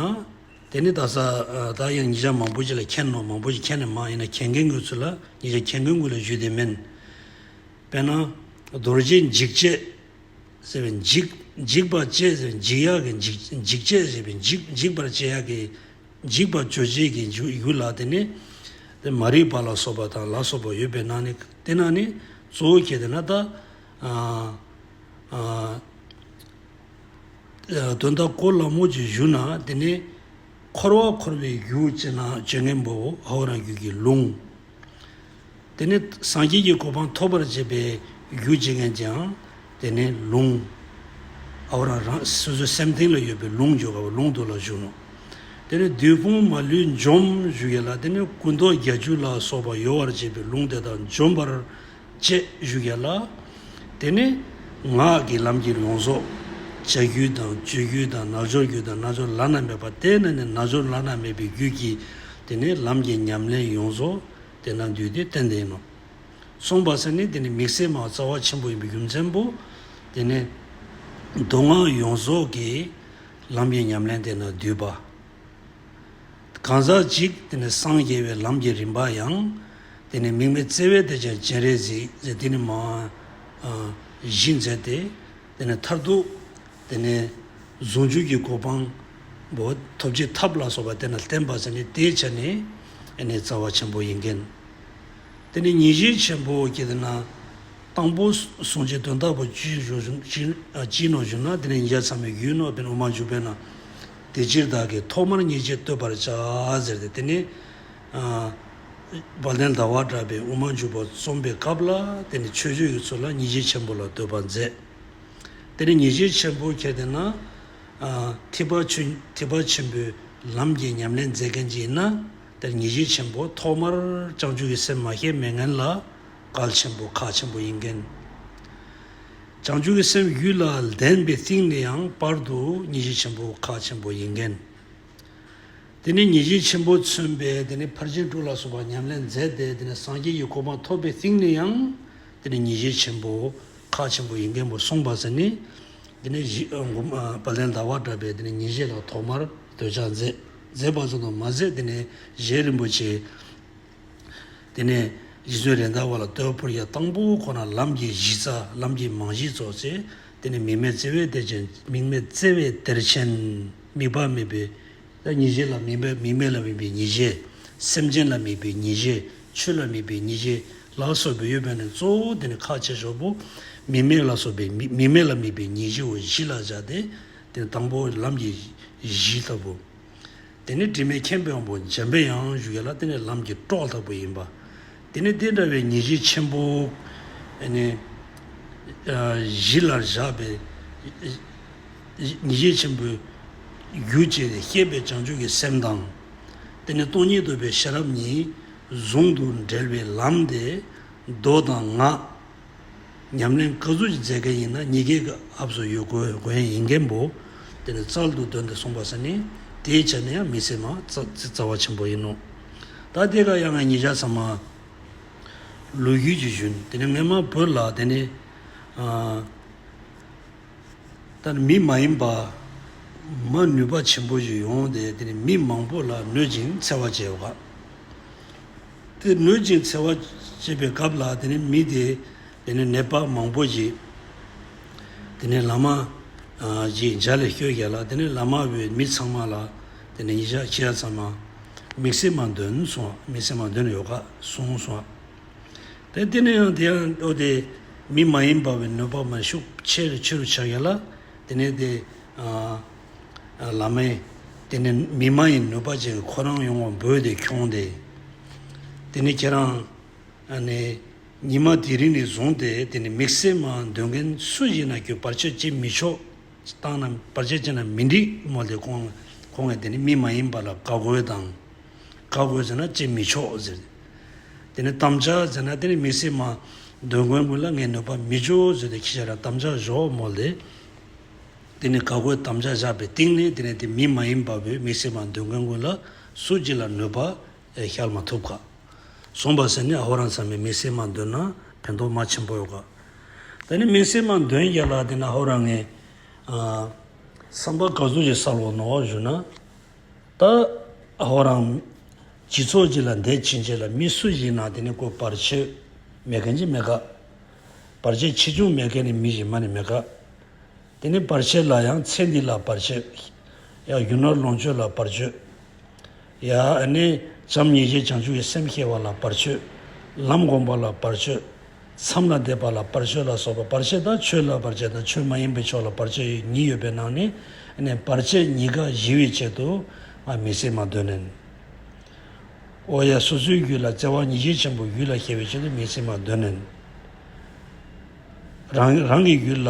དེ་ནི་ད་སར་ཡང་ཉིས་ཆ་མང་པོ་ཞིག་ལ་མཁྱེན་ནོ། མང་པོ་ཞིག་མཁྱེན་ནས་མང་ཡིན་ན་མཁྱེན་མཁན་ཀུན་ཚུར་ལ་ཉིས་ཆ་མཁྱེན་མཁན་ཀུན་ལ་བཞུད་དེ་མིན། དཔེར་ན། རྡོ་རྗེ་འཇིགས་བྱེད་ཟེར་བའི་འཇིགས་འཇིགས་པ་བཅས་ཟེར་བའི་འཇིགས་ཡག་གི་འཇིགས་འཇིགས་བྱེད་ཟེར་བའི་འཇིགས་འཇིགས་པར་བྱེད་ཡག་གི་འཇིགས་པ་བཅོས་བྱེད་ཀྱི་རྒྱུ་ལ་དེ་ནི། དེ་མ་རིག་པ་ལ་སོགས་པ་དང་ལ་སོགས་པ་ཡོད་པས་ན་ནི་དེ་ན་ནི་གཙོ་བོ་ཁྱེད་དེ་ན་ད། དོན་དག་གོ་སླ་མོ་ཅིག་བཞུགས་ན་དེ་ནི། འཁོར་བ་འཁོར་བའི་རྒྱུ་ཅེས་ན་ཇོ་ངེ་འབོ་བོ་ཧ་བོ་རང་རྒྱུད་ཀྱི་ལུང། དེ་ནི་སངས་རྒྱས་ཀྱི་གོ་འཕང་ཐོབ་པར་བྱེད་པའི་རྒྱུ་ཅེས་མཁན་གྱིའང་དེ་ནི་ལུང། ཧ་བོ་རང་རང་སོ་སོའི་སེམས་གཏིང་ལ་ཡོད་པའི་ལུང་བརྗོད་དཀའ་བ་ལུང་དུ་ལ་བཞུགས་ནོ། དེ་ནི་བདུད་དཔུང་མ་ལུས་འཇོམས་བཞུགས་ཡོད་ལ་དེ་ནི་སྐུ་མདོག་བརྒྱ་བཅུ་ལ་སོགས་པ་ཡོ་བར་བྱེད་པའི་ལུང་དེ་དག་འཇོམས་པར། བཅས་བཞུགས་ཡོད་ལ། དེ་ནི་ངག་གི་ལམ་གྱི་ལོངས་སོགས་བྱ་རྒྱུད་དང་སྤྱོད་རྒྱུད་དང་རྣལ་འབྱོར་རྒྱུད་དང་རྣལ་འབྱོར་བླ་ན་མེད་པ་དེ་ན་ནི་རྣལ་འབྱོར་བླ་ན་མེད་པའི་རྒྱུད་ཀྱི་དེ་ནི་ལམ་གྱི་ཉམས་ལེན་ཡོངས་རྫོགས་དེ་ན་འདུས་ཏེ་རྟེན་འདིང་ནོ། གསུངས་པ་སེར་ནི་དེ་ནི་མིག་སེར་མ་རྩ་བ་ཆེན་པོ་ཡིན་པའི་རྒྱུ་མཚན་པོ། དེ་ནི་མདོ་སྔགས་ཡོངས་རྫོགས་ཀྱི་ལམ་གྱི་ཉམས་ལེན་དེ་ན་འདུས་པ། གང་ཟག་གཅིག་དེ་ནི་སངས་རྒྱས་པའི་ལམ་གྱི་རིམ་པ་ཡང། དེ་ནི་མིག་མི་བརྩེ་བས་དེ་ཀྱང་སྤྱན་རས་གཟིགས་དེ་ནི་མ། བཞི་མཛད་དེ། དེ་ནི་མཐར་ཐུག། དེ་ནི། ཟུང་འཇུག་གི་གོ་འཕང། པོ། ཐོབ་བྱེད་ཐབས་ལ་སོགས་པ་དེ་རྣམས་བསྟན་པ་ནི་དེའི་ཆ་ནས་ནི་རྩ་བ་ཆེན་པོ་ཡིན་གྱི། དེ་ནི་ཉིན་བྱེད་ཆེན་པོ་ཀྱི་དེ་ན། དང་པོ། ཟུང་འཇུག་དོན་རྟགས་པོ། སྤྱིའི་ནང་བཞུགས་ན་དེ་ནི་ཉིན་བྱེད་ཚང་མའི་རྒྱུའི་ནོར་དེ་ནི་དབུ་མར་འཇུག་པས་ན། དེ་ཕྱིར་བདག་གིས་ཐོག་མར་མཉེས་བྱེད་བསྟོད་པར་བྱ། ཟེར་ཏེ་དེ་ནས་བ་ལན་ཟླ་བ་གྲགས་པའི་དབུ་མ་འཇུག་པ་རྩོམ་པའི་སྐབས་ལ་དེ་ནི་ཆོས་སྤྱོད་ཀྱི་ཚུལ་ལ་མཉེས་བྱེད་ཆེན་པོ་ལ་བསྟོད་པ་མཛད། དེ་ནས་མཉེས་བྱེད་ཆེན་པོ་ཁྱེར་ཏེ་ན། ཐེག་པ་ཆེན་པོའི་ལམ་གྱི་ཉམས་ལེན་མཛད་མཁན་གྱི་ཡིན་ན་དེར་མཉེས་བྱེད་ཆེན་པོ་ཐོག་མར་བསྐྱང་ཆུ་ཡི་སེམས་མ་ཤེས་མེད་ངན་ལ། གལ་ཆེན་པོ་ཁག་ཆེན་པོ་ཡིན་མཁན། བྱང་ཆུབ་ཀྱི་སེམས་ཡུལ་ལ་ལྡན་པའི་རྟིང་ནས་ཡང་བར་དུ་ངེས་ཤེས་ཆེན་པོ་ཁག་ཆེན་པོ་ཡིན་མཁན། དེ་ནས་ངེས་ཤེས་ཆེན་པོ་མཚོན་པས་དེ་ནས་ཕར་ཕྱིན་དྲུག་ལ་སོགས་པ་ཉམས་ལེན་མཛད་དེ་དེ་ནས་སངས་རྒྱས་ཀྱི་གོ་འཕང་ཐོབ་པའི་རྟིང་ནས་ཡང་དེ་ནས་ངེས་ཤེས་ཆེན་པོ་ཁག་ཆེན་པོ་ཡིན་མཁན་པོ་གསུངས་པ་ཟེར་ནི། དེ་ནས་བ་ལན་ཟླ་བ་འདྲ་བས་དེ་ནས་ངེས་ཤེས་ལ་ཐོག་མར་འདོད་ཆགས་མཛད། མཛད་པ་ཙམ་དུ་མ་ཟད་དེ་ནས་གཞན་རིན་པོ་ཆེ། དེ་ནས་རྗེ་བཙུན་རེད་མདའ་བ་ལ་བསྟོད་པ་ཕུལ་ཡ་དང་པོ་ཁོ་ན་ལམ་གྱི་གཞི་རྩ་ལམ་གྱི་མང་གཞི་རྫོགས་ཚེ་དེ་ནས་མིག་མེད་བརྩེ་བའི་གཏེར་ཆེན། མིག་མེད་བརྩེ་བའི་གཏེར་ཆེན། མིག་དཔའ་མེད་པའི། ལ་མྱི་བྱེད་ལ་མིག་མེད་མིག་མེད་ལ་མིག་པའི་མྱི་བྱེད། སེམས་ཅན་ལ་མིག་པའི་མྱི་བྱེད་ཆོས་ལ་མིག་པའི་མྱི་བྱེད་ལ་སོགས་པའི་ཡོད་པས་ནི་གཙོ་བོ་དེ་ནི་ཁ་ཆེ་ཤོག་བུ། མིག་མེད་ལ་སོགས་པའི་མིག་མེད་ལ་མིག་པའི་མྱི་བྱེད་བཞི་ལ་སྦྱར་ཏེ། དེ་ནི་དང་པོ་ལམ་གྱི་གཞི་ལྟ་བུ། འདི་ནི་དྲི་མེད་མཁྱེན་དཔོན་པོ་འཇམ་པའི་ཡང་བཞུགས་ཡན་ལག་བསྟན་ལས་ལམ་གྱི་སྤྲོ་ལྷག་པོ་ཡིན་པ། འདི་ནི་དེ་འདྲ་བའི་ཉེས་བྱས་ཆེན་པོ། བཞི་ལ་བཞག་པའི་ཉེས་བྱས་ཆེན་པོའི། རྒྱུ་བཅས་ནི་སྐྱེས་པའི་བྱང་ཆུབ་ཀྱི་སེམས་དང། འདི་ནི་སྟོང་ཉིད་རྟོགས་པའི་ཤེས་རབ་གཉིས། ཟུང་དུ་འབྲེལ་བའི་ལམ་སྟེ། མདོ་དང་ངག། ཉམས་ལེན་དཀའ་ཚུལ་གྱི་མཛད་མཁན་ཡིན་ན་ཉི་རྒྱལ་གྱི་ཨབ་སོ་ཡོད་དགོས་མཁན་ཡིན་མཁན་པོ། དེ་ནི་རྩལ་དུ་འདོན་ཏེ་གསུངས་པ་ཟེར་ནས་དེའི་ཆ་ནས་ཡང་མི་སེར་མ་རྩ་བ་ཆེན་པོ་ཡིན་ནོ། ད་ལྟའི་ཁར་ཡང་ང་ཉིད་ཇག་ཚང་མ། ལོ་རྒྱུས་ཀྱི་གཞུན་དེ་ནི་ངས་མ་བོས་ལ་དེ་ནི། ད་ནི་མི་མ་ཡིན་པ། མ་ནུས་པ་ཆེན་པོ་ཞིག་ཡོང་སྟེ་དེ་ནི་མི་མང་པོ་ལ་གནོད་ཅིང་འཚེ་བ་བྱས་པ། དེ་ནུད་ཅིང་འཚེ་བ་བྱེད་པའི་སྐབས་ལ་དེ་ནི་མི་དེ་དེ་ནི་ནད་པ་མང་པོ་ཞིག་དེ་ནི་ལཱ་མ་ཞིག་འཇའ་ལས་བསྐྱོད་བྱས་ལ་དེ་ནི་ལཱ་མ་བའི་མི་ཚང་མ་ལ་དེ་ནི་ཉིན་ཞག་ཕྱེད་ཙམ་མ་མིག་སེར་མ་འདོན་སོང་མིག་སེར་མ་འདོན་ཡོད་ཁ་སོང་སོང་བས་དེ་ནི་ཡང་དེ་ཡང་ཨོ་དེ་མི་མ་ཡིན་པ་བའི་ནུད་པ་མ་ཤུགས་ཆེ་རུ་ཆེ་རུ་ཆགས་བྱས་ལ་དེ་ནི་དེ། བླ་མས་དེ་ནི་མི་མ་ཡིན་ནུས་པ་ཅིག་ཁོ་རང་ཡོང་བར་འབོད་དེ་འཁྱོངས་ཏེ། དེ་ནི་ཁྱེད་རང། ནི། ཉི་མ་དེ་རིང་ནས་བཟུང་སྟེ་དེ་ནི་མིག་སེར་མ་འདོན་མཁན་སུ་ཞིག་ན་གྱོད་བར་ཆད་བྱེད་མི་ཆོག་བཏང་ན་བར་ཆད་བྱེད་ན་མི་འགྲིག་མོ་དེ་ཁོང་ངས་དེ་ནི་མི་མ་ཡིན་པ་ལ་དགའ་དགོས་དང། དགའ་དགོས་ཟེར་ན་བྱེད་མི་ཆོག་ཟེར། དེ་ནི་དམ་བཅའ་ཟེར་ན་དེ་ནི་མིག་སེར་མ་འདོན་མཁན་ཀུན་ལ་ངས་ནུས་པ་མི་འཇོག་ཟེར་ཏེ་ཁྱེད་རང་དམ་བཅའ་བཞོག་མོ་དེ། དེ་ནི་འགག་སྒོའི་དམ་བཅའ་བཞག་པའི་སྟེང་ནས་དེ་ནས་དེ་མི་མ་ཡིན་པ་བོས་མི་སེར་མ་འདོན་མཁན་ཀུན་ལ་སུ་གཅིག་ལ་ནུས་པ་ཤར་མ་ཐུབ་ཀ། བཟུང་བ་ཟེར་ནས་ཧོར་རང་ཚང་མས་མི་སེར་མ་འདོན་ན་ཕན་ཐོག་མ་ཆེན་པོ་ཡོད་ཀ། ད་ནི་མི་སེར་མ་འདོན་རྒྱ་ལ་དེ་ན་ཧོར་རང་ངས་བསམ་པ་ག་ཟུ་ཞིག་བསགས་ལོག་ནོ་བཞུགས་ན། ད་ཧོར་རང་སྤྱི་ཚོགས་གཅིག་ལ་འདས་ཕྱིན་ཆད་ལ་མི་སུ་ཞིག་ན་དེ་ནི་གོ་བར་ཆོད་མེད་མཁན་ཅིག་མེད་ཀ། བར་ཆད་ཆེ་ཆུང་མེད་མཁན་ནི་མི་གཞན་མ་ནི་མེད་དཀའ། དེ་ནི་བར་ཆད་ལ་ཡང་ཚེ་འདི་ལ་བར་ཆད། ཡང་གཞོན་ནུར་ལོངས་སྤྱོད་ལ་བར་གཅོད། ཡང་ནི་བྱམས་སྙིང་རྗེ་བྱང་ཆུབ་ཀྱི་སེམས་སྐྱེ་བ་ལ་བར་གཅོད། ལམ་བསྒོམ་པ་ལ་བར་གཅོད། མཚམས་ལ་འདེབས་པ་ལ་བར་གཅོད་ལ་སོགས་པ་བར་ཆད་དང་ཆོས་ལ་བར་ཆད་དང་ཆོས་མ་ཡིན་པའི་ཕྱོགས་ལ་བར་ཆད་ཉིད་ཡོད་པའི་ནང་ནས་ནི་བར་ཆད་ཉིད་ཀ་བཞི་བའི་ཆེད་དུ། ང་མི་སྲིད་མ་བདོས་ནས། ཨོ་ཡ་སོ་སོའི་རྒྱུད་ལ་བརྩེ་བ་ཉིད་ཤས་ཆེན་པོ་རྒྱུད་ལ་སྐྱེ་བའི་ཕྱིར་དུ་མི་ཚིག་མ་གདོད་ནས་རང་རང་གི་རྒྱུད་ལ།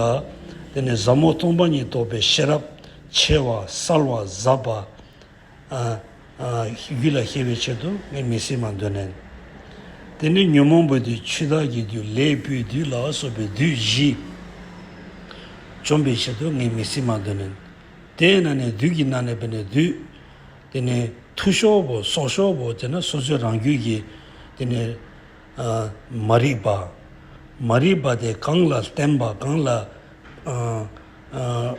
དེ་ནས་ཟབ་མོ་སྟོང་པ་ཉིད་རྟོགས་པའི་ཤེས་རབ། ཆེ་བ་གསལ་བ་ཟབ་པ། རྒྱུད་ལ་སྐྱེ་བའི་ཕྱིར་དུ་ངས་མི་ཚིག་མ་གདོད་ནས། དེ་ནས་ཉོན་མོངས་པ་དུས་ཆུ་དག་གི་རྒྱུ་ལས་སྤུའི་བདུད་ལ་སོགས་པའི་བདུད་བཞི། བཅོམ་པའི་ཕྱིར་དུ་ངས་མི་ཚིག་མ་གདོད་ནས། དེས་ན་ནས་བདུད་ཀྱི་ནང་ནས་བས་ནས་བདུད། དེ་ནས་ཐུ་ཤོག་བུ་སོག་ཤོག་བུ་དེ་ནི་སོ་སོའི་རང་རྒྱུད་ཀྱི་དེ་ནི་མ་རིག་པ། མ་རིག་པ་དེ་གང་ལ་བརྟེན་པ་གང་ལ་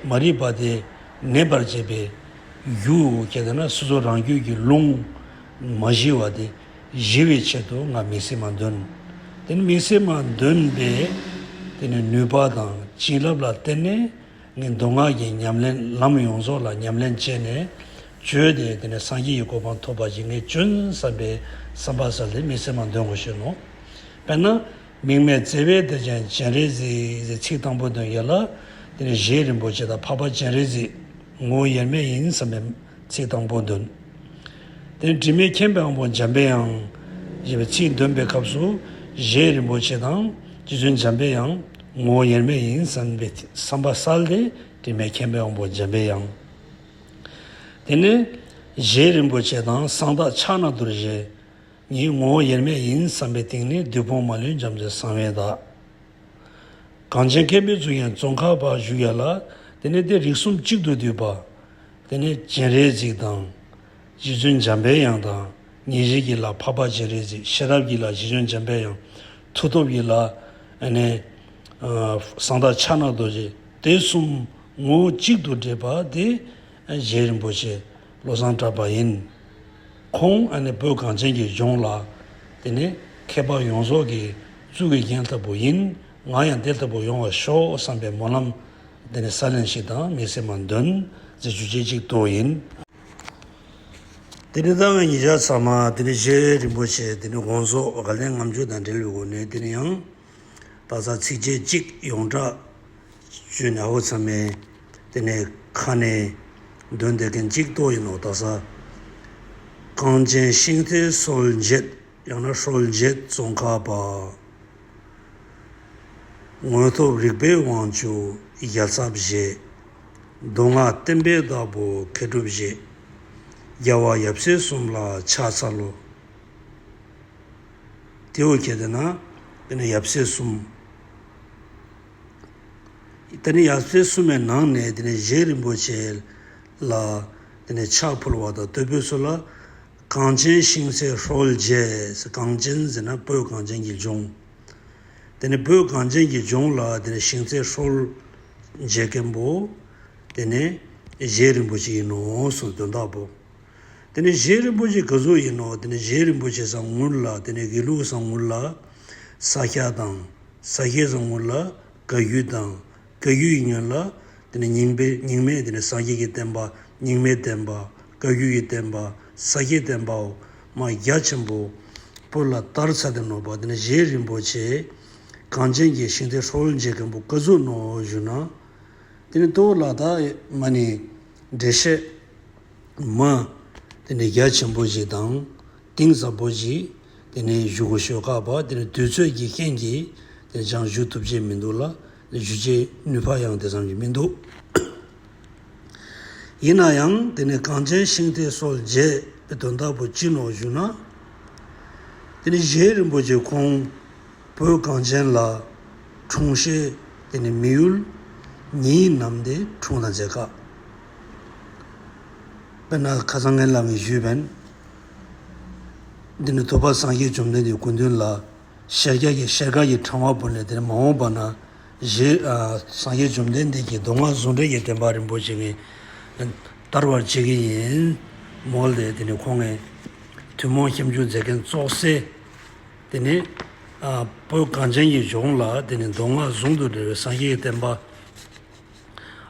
མ་རིག་པ་དེ་གནས་པར་བྱེད་པའི་རྒྱུ་གལ་ཏེ་ན་སོ་སོ་རང་རྒྱུད་ཀྱི་རླུང་མ་གཞིལ་བ་དེ་གཞིལ་བའི་ཕྱིར་དུ་ང་མི་སྲིད་མ་འདོན། དེ་ནི་མི་སྲིད་མ་འདོན་པའི་དེ་ནི་ནུས་པ་དང་བྱིན་རླབས་ལ་བརྟེན་ནས། ནི་མདོ་སྔགས་ཀྱི་ཉམས་ལེན་ལམ་ཡོངས་རྫོགས་ལ་ཉམས་ལེན་བྱས་ནས་བཅོལ་ཏེ་དེ་ནས་སངས་རྒྱས་ཀྱི་གོ་འཕང་ཐོབ་པ་ཡིན་ངེས་སྐྱོན་བསམ་པའི་བསམ་པ་སལ་ལེ་མི་སེར་མ་འདོན་དགོས་ཤེས་ནོ། དཔེར་ན། མིག་མེད་བརྩེ་བས་བདེ་ཆེན་སྤྱན་རས་གཟིགས་ཚིག་དང་པོ་འདོན་ཡོད་ལ། དེ་ནས་བཞེད་རིན་པོ་ཆེ་དང་འཕགས་པ་སྤྱན་རས་གཟིགས། ངོ་བོ་དབྱེར་མེད་ཡིན་བསམ་པའི་ཚིག་དང་པོ་འདོན། དེར་དྲི་མེད་མཁྱེན་པའི་དབང་པོ་འཇམ་པའི་དབྱངས། ཞེས་པའི་ཚིག་འདོན་པའི་སྐབས་སུ་གཞན་རིན་པོ་ཆེ་དང་རྗེ་བཙུན་འཇམ་པའི་དབྱངས་ངོ་བོ་དབྱེར་མེད་ཡིན་བསམ་པའི་བསམ་པ་གསལ་ཏེ་དྲི་མེད་མཁྱེན་པའི་དབང་པོ་འཇམ་པའི་དབྱངས། དེ་ནས་གཞན་རིན་པོ་ཆེ་དང་གསང་བདག་ཕྱག་ན་རྡོར་བཞི་ཉིད་ངོ་བོ་དབྱེར་མེད་ཡིན་བསམ་པའི་སྟེང་ནས་བདུད་དཔུང་མ་ལུས་འཇམ་རྩལ་གསང་བའི་བདག། གངས་ཅན་མཁས་པའི་གཙུག་ཡན་ཙོང་ཁ་པ་བཞུགས་ཡ་ལ། དེ་ནས་དེ་རིགས་གསུམ་གཅིག་ཏུ་འདུས་པ། དེ་ནས་སྤྱན་རས་གཟིགས་དང། རྗེ་བཙུན་འཇམ་པའི་དབྱངས་དང། ཉིན་རེ་གྱི་ལ་འཕགས་པ་སྤྱན་རས་གཟིགས་ཤེས་རབ་ཀྱི་ལ་རྗེ་བཙུན་འཇམ་པའི་དབྱངས། མཐུ་སྟོབས་ཀྱི་ལ། ནས། གསང་བདག་ཕྱག་ན་རྡོ་རྗེ་དེ་གསུམ་ངོ་བོ་གཅིག་ཏུ་འདྲེས་པ་དེ། རྗེ་རིན་པོ་ཆེ། བློ་བཟང་གྲགས་པ་ཡིན། ཁོང་ཨ་ནི་བོད་གངས་ཅན་གྱི་ལྗོངས་ལ། དེ་ནི་ཁྱད་འཕགས་ཡོངས་རྫོགས་ཀྱི་གཙུག་གི་རྒྱན་ལྟ་བུ་ཡིན། ང་ཡང་དེ་ལྟ་བུ་ཡོང་བར་ཤོག་བསམ་པའི་སྨོན་ལམ། འདི་ནི་ས་གླིང་ཞིག་དང་མི་སེར་མ་འདོན། ཟེར་རྒྱུ་ཆེ་གཅིག་ཏུ་ཡིན། དེ་ནི་ད་ང་ཉིད་ཆ་ཚང་མ་དེ་ནི་རྗེ་རིན་པོ་ཆེ་དེ་ནི་དགོངས་རྫོགས་བཀའ་ལན་ངམ་ཆོས་དང་འབྲེལ་བའི་སྒོ་ནས་དེ་ནི་ཡང་དག་ཚགས་ཚིག་བཅད་གཅིག་ཡོངས་གྲགས་བརྗོད་ནས་ཨ་ཁུ་ཚང་མའི། དེ་ནས་ཁ་ནས་འདོན་དེ་གན་གཅིག་ཏོ་ཡིན་ནོ་ད་ས། གངས་ཅན་ཤིང་རྟའི་སྲོལ་འབྱེད་ཡང་ན་ཧྲོལ་འབྱེད་ཙོང་ཁ་པ། དངོས་སྟོབས་རིག་པའི་དབང་ཕྱུག་རྒྱ་ཚབ་བཞེས། མདོ་སྔགས་བསྟན་པའི་བདག་པོ་མཁས་གྲུབ་བཞེས། རྒྱལ་བ་ཡབ་སྲས་གསུམ་ལ་ཕྱག་འཚལ་ལོ། དེའུ་ཁྱེད་དེ་ན་ཡབ་སྲས་གསུམ། དེ་ནས་ཡར་ཚེས་གསུམ་མའི་ནང་ནས་དེ་ནས་བཞེས་རིན་པོ་ཆེ་ལ་དེ་ནས་ཕྱག་ཕུལ་བ་དང་སྟོད་བོད་སོགས་ལ། གངས་ཅན་ཤིང་བསྲེགས་ཧྲོལ་རྒྱས། གངས་ཅན་ཟེར་ན་བོད་གངས་ཅན་གྱི་ལྗོངས། དེ་ནས་བོད་གངས་ཅན་གྱི་ལྗོངས་ལ་དེ་ནས་ཤིང་བསྲེགས་ཧྲོལ་རྒྱས་མཁན་པོ། དེ་ནས་བཞེས་རིན་པོ་ཆེ་ཡིན་ནོ་གསུངས་དོན་དག་པོ། དེ་ནི་གཞན་རིན་པོ་ཆེ་ག་གཟུགས་ཡིན་ནོ་དེ་ནི་གཞན་རིན་པོ་ཆེ་བཟང་ངུར་ལ་དེ་ནི་དགེ་ལུགས་བཟང་ངུར་ལ། ས་སྐྱ་དང། ས་སྐྱའི་བཟང་ངུར་ལ་དགའ་རྒྱུ་དང། དགའ་རྒྱུ་ཡི་ཉོན་ལ། དེ་ནི་རྙིང་པའི་རྙིང་མའི་དེ་ནི་སངས་རྒྱས་ཀྱི་བསྟན་པ་རྙིང་མའི་བསྟན་པ། བཀའ་བརྒྱུད་ཀྱི་བསྟན་པ་ས་སྐྱའི་བསྟན་པའོ། མ་རྒྱ་ཆེན་པོ། པོ་ལ་ལྟར་ཚ་དེ་ནོར་བ་དེ་ནི་གཞན་རིན་པོ་ཆེ། གངས་ཅན་གྱི་ཞིང་སྟེ་ཧྲོ་ཧོལ་འཇིགས་མཁན་པོ་ག་གཟུགས་ནོ་བཞུགས་ན། དེ་ནི་ཏུའུ་ལ་དྭགས་མ་ནི་འགྲེལ་བཤད། མ། དེ་ནས་རྒྱ་ཆེན་པོ་ཞིག་དང། གཏིང་ཟབ་པོ་ཞིག་དེ་ནས་བཞུགས་གོ་ཞོལ་ཁ་བ་དེ་ནས་དུས་ཚོད་ཀྱི་རྐྱེན་གྱིས་དེ་ནས་ཅང་བཞུགས་ཐུབ་ཀྱི་མི་འདུག་ལ། བཞུགས་བྱའི་ནུས་བ་ཡང་དེ་ཙམ་གྱི་མི་འདུག། ཡིན་ན་ཡང་དེ་ནས་གངས་ཅན་ཤིང་རྟའི་སྲོལ་འབྱེད་པའི་དོན་དག་པོ་སྤྱི་ནོར་བཞུགས་ན། དེ་ནས་གཞན་རིན་པོ་ཆེ་ཁོང་བོད་གངས་ཅན་ལ་འཁྲུངས་ཤེས་དེ་ནས་མི་ཡུལ་ཉིད་ནམ་དེ་འཁྲུངས་དང་མཇལ་ཁ། དཔེར་ན་ཁ་སང་ངའི་ལམ་བའི་ཞུས་བན། འདི་ནི་ཐུབ་པ་སངས་རྒྱས་བཅོམ་ལྡན་འདས་ཀུན་འདུས་ལ། ཤེལ་སྐྱ་ཀྱི་ཤེལ་དཀར་གྱི་འཕྲེང་བ་བོར་ནས་དེར་མ་འོངས་པ་ན། ཞེས་སངས་རྒྱས་བཅོམ་ལྡན་འདས་ཀྱིས་མདོ་སྔགས་ཟུང་འབྲེལ་གྱི་བསྟན་པ་རིན་པོ་ཆེ་ངས་བསྟར་བར་བྱེད་ཀྱི་ཡིན། མོད་ལས་དེ་ནི་ཁོང་ངས་ཐུན་མོང་ཁྱབ་འཇུག་མཛད་མཁན་བཙོག་སའི། དེ་ནི་བོད་གངས་ཅན་གྱི་ལྗོངས་ལ་དེ་ནི་མདོ་སྔགས་ཟུང་དུ་འབྲེལ་བའི་སངས་རྒྱས་བསྟན་པ།